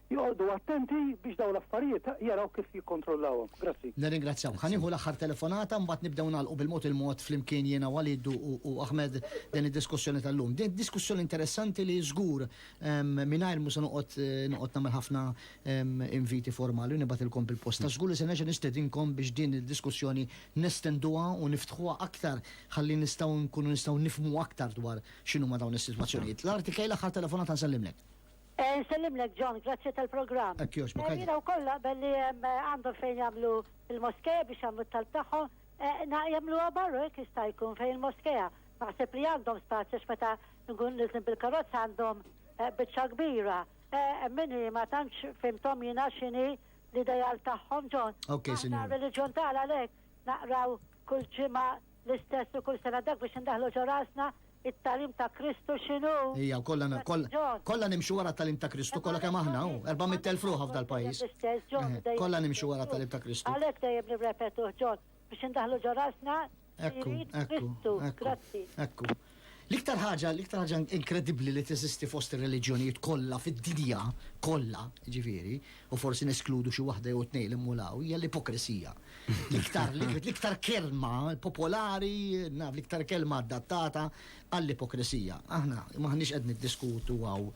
joqogħdu attenti biex dawn l-affarijiet jaraw kif jikkontrollawhom. Grazzi. Nirringrazzjawk. Ħa nieħu l-aħħar telefonata mbagħad nibdew nagħlqu bil-mod il-mod flimkien jiena Walid u Ahmed din id-diskussjoni tal-lum. Din diskussjoni interessanti li żgur mingħajr mhux se noqgħod noqgħod nagħmel ħafna inviti formali u nibgħatilkom bil-posta. Żgur li se nerġa' nistedinkom biex din id-diskussjoni nestenduha u niftħuha aktar ħalli nistgħu nkunu nistgħu nifhmu aktar dwar x'inhuma dawn is-sitwazzjonijiet. L-Arti Kay l-aħħar telefonata nsellimlek. Eh, nsellimlek John, grazzi tal-programm. Hekk jogħġbok. Eh, jiena wkoll naqbel li eh, għandhom fejn jagħmlu il-moskeja biex jagħmlu t-talb tagħhom, jagħmluha barru hekk jista' jkun fejn il-moskeja. Naħseb li għandhom spazju x'meta nkun nizlim bil-karozza għandhom biċċa kbira. Emmini, ma tantx fimtom jina xini l-idejal tagħhom ġon. Ok, sinjur. Reliġjon tagħna lek naqraw kull ġimgħa l-istess u kull sena dak biex indaħlu ġo rasna it-talim ta' Kristu xinu. Ija, kollha kollha nimxu wara t-talim ta' Kristu, kollha kemm aħna, 400,000 ruħa f'dal-pajjiż. Kollha nimxu wara t-talim ta' Kristu. Għalhekk dejjem nirrepetuh ġon. biex indaħlu ġo rasna Ekku, jrid ekku, Kristu. ekku, Grazzi. ekku. L-iktar ħaġa, l-iktar ħaġa inkredibbli li teżisti fost ir-reliġjonijiet kollha fid-dinja kollha, ġifieri, u forsi neskludu xi waħda jew tnejn li mmulaw, hija l-ipokrisija. L-iktar l-iktar kelma popolari, naf l-iktar kelma adattata għall-ipokrisija. Aħna maħniex qed niddiskutu għaw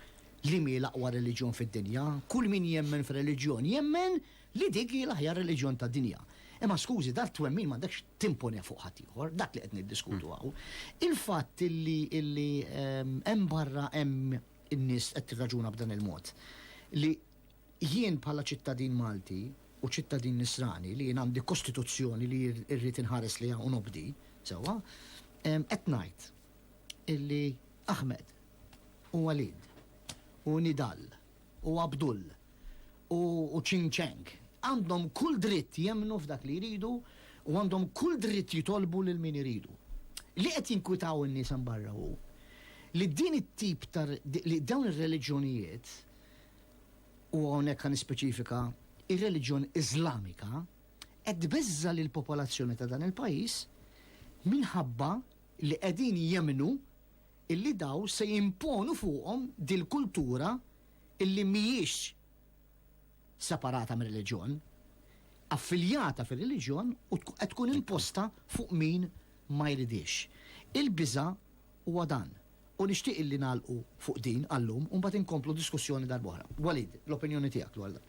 li mi l-aqwa reliġjon fid-dinja, kull min jemmen f'reliġjon jemmen Li dik hi l-aħjar reliġjon tad-dinja. Imma skużi, dan it-twemmin m'għandekx timponeh fuq ħaddieħor, dak li qed niddiskutu hawn. Il-fatt li li hemm barra hemm in-nies qed tirraġuna b'dan il-mod, li jien bħala ċittadin Malti u ċittadin Nisrani li jien għandi kostituzzjoni li rrid inħares lejha u nobdi, sewwa, qed ngħid illi Ahmed u Walid u Nidal u Abdul u Ching Cheng għandhom kull dritt jemmnu f'dak li jridu u għandhom kull dritt jitolbu lil min iridu. Li qed jinkwitaw in-nies hemm barra hu li din it-tip ta' li dawn ir-reliġjonijiet, u hawnhekk ħa nispeċifika, ir-reliġjon Iżlamika, qed tbeżża' lill-popolazzjoni ta' dan il-pajjiż minħabba li qegħdin jemmnu illi daw se jimponu fuqhom dil-kultura illi mhijiex separata mir-reliġjon, affiljata fir-reliġjon u qed tkun imposta fuq min ma jridhiex. Il-biża' huwa dan. U nixtieq illi nagħlqu fuq din għal-lum u mbagħad inkomplu diskussjoni darb'oħra. Walid, l-opinjoni tiegħek dwar dan?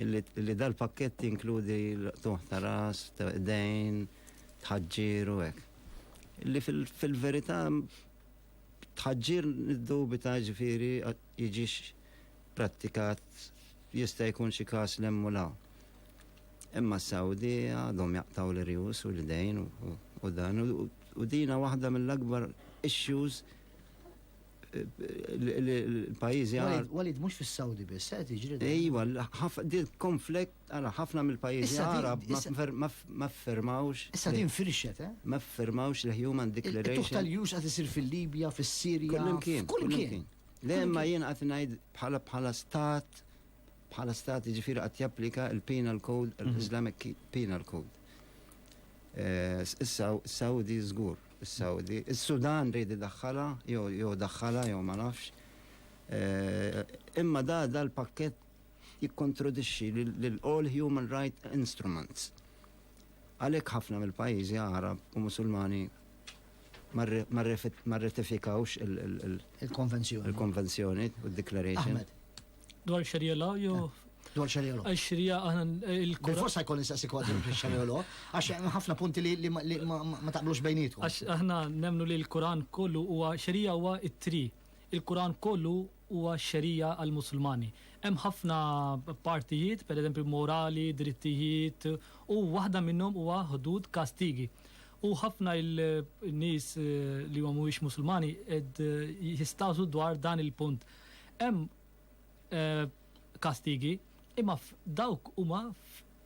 li dal-pakkett jinkludi l-qtuħ ta' ras, ta' dejn, tħaġġir u hekk. Li fil-verità tħaġġir niddubita ġifieri jiġix prattikat jista' jkun xi każ l u law. Imma s-Sawdi għadhom jaqtaw l-irjus u l-idejn u dan u dina waħda mill-akbar issues l-pajizi għal. Walid, mux fil-Saudi biss, għed eh, iġri. Ejwa, din konflikt, għala, ħafna mill-pajizi għarab ma fermawx. Issa din firxet, eh? Ma fermawx l-Human Declaration. Tuħta l-jus għad isir fil-Libja, fil-Sirja. Kullimkien. Kullimkien. Lemma jien għat najd bħala bħala stat, bħala stat ġifiri għat japplika il-Penal Code, mhm. l-Islamic Penal Code. Eh, issa, Saudi zgur. Is-Sawdi. Is-Sudan ried idaħħalha jew jew daħħalha jew ma nafx. Imma da da l-pakkett jikkontrodixxi lil all human right instruments. Għalhekk ħafna mill-pajjiżi Għarab u Musulmani ma rratifikawx il-konvenzjoni, il-konvenzjoni u d-declaration. Dwar xerjela, jo. Dwar xerjela. Għax xerja għana il-kura. Forse għajkon nistaqsi kwa dwar xerjela, għax ħafna punti li ma taqblux bejnietu. Għax aħna nemnu li l-Kuran kollu huwa xerija huwa it-tri. Il-Kuran kollu huwa xerija għal-Musulmani. Hemm ħafna partijiet, per eżempju morali, drittijiet, u waħda minnhom huwa ħdud kastigi. U ħafna il-nies eh, li ma mhuwiex Musulmani ed eh, jistasu dwar dan il-punt. Hemm kastigi, imma dawk huma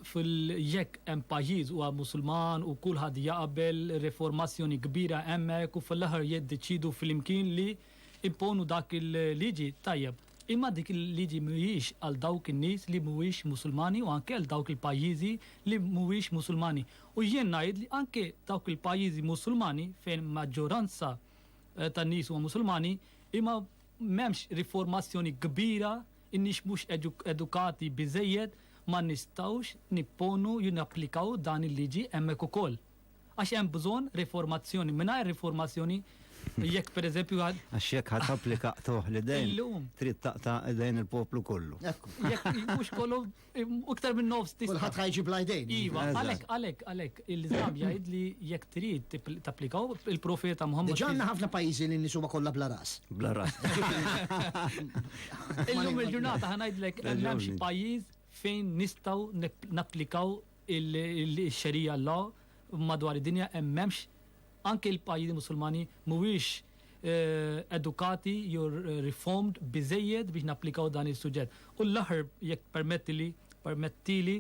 jekk hemm pajjiż huwa Musulman u kulħadd jaqbel, riformazzjoni kbira hemmhekk u fl-aħħar jiddeċiedu flimkien li imponu dak il-liġi, tajjeb. Imma dik il-liġi mhijiex għal dawk in-nies li mhuwiex Musulmani u anke għal dawk il-pajjiżi li mhuwiex Musulmani. U jien ngħid li anke dawk il-pajjiżi Musulmani fejn maġġoranza tan-nies huma Musulmani, imma M'hemmx riformazzjoni kbira, inniex mhux edukati biżżejjed, ma nistgħux nipponu jew napplikaw dan il-liġi hemmhekk ukoll. Għax hemm bżonn riformazzjoni. Mingħajr riformazzjoni jekk pereżempju għal. Għax jekk ħadd applika qtuħ li dejn. Illum. Trid taqta' dejn il-poplu kollu. Jekk mhux kollu Iktar minn nofs tista'. Kulħadd ħajġi bla jdejn. Iva, għalhekk għalhekk għalhekk il-Islam jgħid li jekk trid tapplikaw il-profeta Muhammad. Diġà għandna ħafna pajjiżi li nies huma kollha bla ras. Bla ras. Illum il-ġurnata ħanajdlek hemm xi pajjiż fejn nistgħu napplikaw il-xerija law madwar id-dinja hemm m'hemmx anke l-pajjiżi Musulmani mhuwiex edukati jew riformed biżżejjed biex napplikaw dan is-suġġett. U l-aħħar jekk permettili, permettili,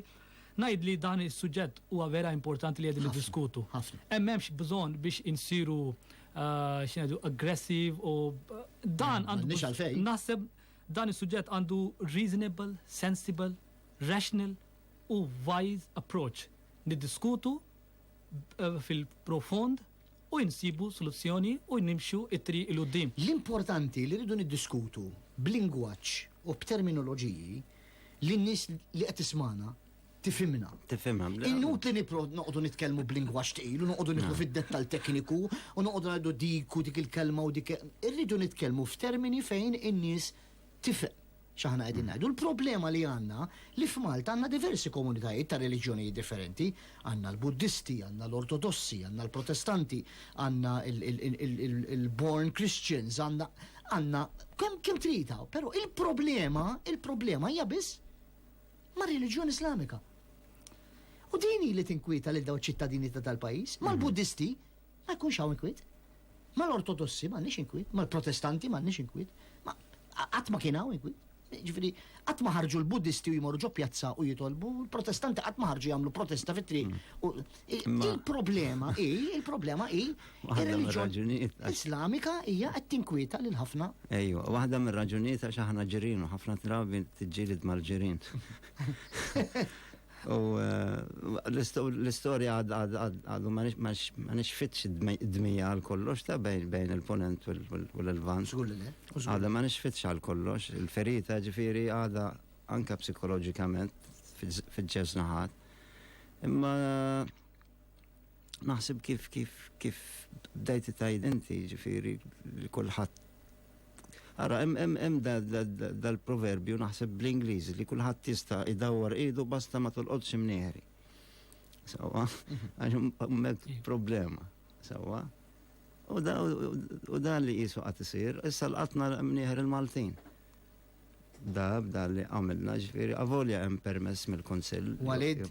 ngħid li dan is-suġġett huwa vera importanti li qegħdin niddiskutu. Hemm hemmx bżonn biex insiru eh, x'ngħidu aggressiv u eh, dan għandu naħseb dan is-suġġett għandu reasonable, sensible, rational u wise approach. Niddiskutu eh, fil-profond u insibu soluzzjoni u nimxu t-triq 'il quddiem. L-importanti li rridu niddiskutu b'lingwaġġ u b'terminoloġiji li n-nies li qed tismagħna tifhimna. Tifhimha. Inutli nipprov noqogħdu nitkellmu b'lingwaġġ tqil u noqogħdu nidħlu fid-dettall tekniku u noqogħdu ngħidu dik u dik il-kelma u dik. Irridu nitkellmu f'termini fejn in-nies Tifhem x'aħna qegħdin ngħidu. Il-problema li għandna li f'Malta għandna diversi komunitajiet ta' reliġjonijiet differenti. Għandna l-Buddisti, għandna l-Ortodossi, għandna l-Protestanti, għandna l-Born Christians, għandna għandna kemm kemm trid hawn. Però il-problema, il-problema hija biss mar-reliġjoni Islamika. U din hi li tinkwieta lil dawn ċittadini ta' dal-pajjiż, mal-Buddisti, Ma jkunx hawn inkwiet. Mal-Ortodossi m'għandniex inkwiet, mal-Protestanti m'għandniex inkwiet, ma qatt ma kien hawn inkwiet. Ġifieri, qatt ma ħarġu l-Buddisti u jmorru ġo pjazza u jitolbu, l-Protestanti qatt ma ħarġu jagħmlu protesta fit-triq. Hmm. U i- Ma- Il-problema hi, il-problema hi, Waħda ir-reliġjon mir-raġunijiet għax- Islamika hija qed tinkwieta lil ħafna. Ejwa, waħda mir-raġunijiet għax aħna ġirien u ħafna drabi tiġġieled mal-ġirien. U l-istorja għadu ma nixfitx id-dmija għal kollox ta' bejn il-ponent u l-lvant. Zgur li le. Għadu ma nixfitx għal kollox. Il-ferita ġifiri għada anka psikologikament fil-ġez naħat. Imma naħseb kif kif kif bdejti tajd inti ġifiri li kullħat Ara, hemm dal-proverbju naħseb bl-Ingliż li kulħadd tista' idawwar idu basta ma tolqodx imnieħri. Sawa, għax hemmhekk problema. Sawa. U dan li qisu qatt isir, issa l-qatna mnieħer il-Maltin. Da, da li għamilna ġifieri, avolja hemm permess mill-Kunsill. Walid,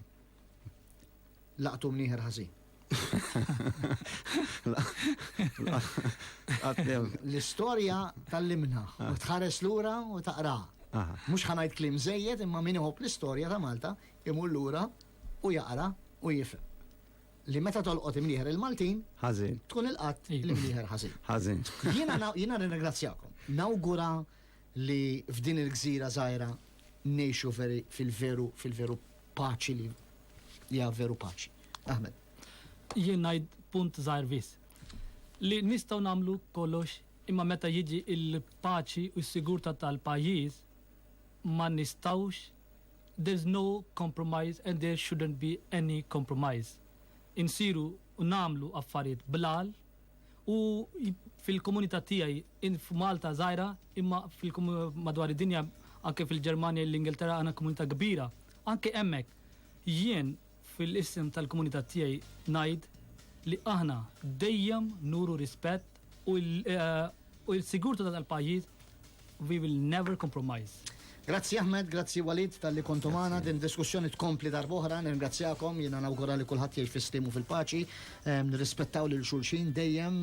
laqtu mnieħer ħażin. L-istorja tal-limna, u tħares lura u taqra. Mux ħanajt klim zejjed imma min iħob l-istorja ta' Malta imur lura u jaqra u jifhem. Li meta tolqot imnieħer il-Maltin, tkun il-qatt imnieħer ħażin. Ħażin. Jiena nirringrazzjakom. Nawgura li f'din il-gżira żgħira ngħixu veri fil-veru fil-veru paċi li hija veru paċi. Ahmed. Jien ngħid punt żgħir biss. Li nistgħu nagħmlu kollox imma meta jiġi l-paċi u s-sigurtà tal-pajjiż ma nistgħux there's no compromise and there shouldn't be any compromise. Insiru u nagħmlu affarijiet bl-għaql U fil-komunità tiegħi in f'Malta żgħira, imma fil-kom- madwar id-dinja, anke fil-Ġermanja, l-Ingilterra għandna komunità kbira. Anke hemmhekk, jien fil-isem tal-komunità tiegħi ngħid li aħna dejjem nuru rispett u l- eh, u l-sigurtà tal-pajjiż We will never compromise. Grazzi Ahmed, grazzi Walid tal-li kontu maħna din diskussjoni tkompli darboħra, nirringrazzjakom, jina nawgura li kullħat jgħix fis-stimu fil-paċi, nirrispettaw lil xulxin dejjem,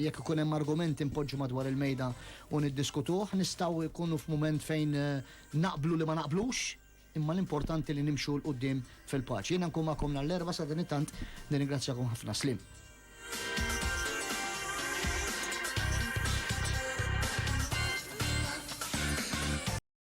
jekk ikun hemm argument impoġġu madwar il-mejda u niddiskutuh, nistgħu jkunu f'mument fejn eh, naqblu li ma naqblux, imma l-importanti li nimxu 'l quddiem fil-paċi. Jiena nkun magħkom nhar l-Erbgħa, sadanittant nirringrazzjakom ħafna. Sliem.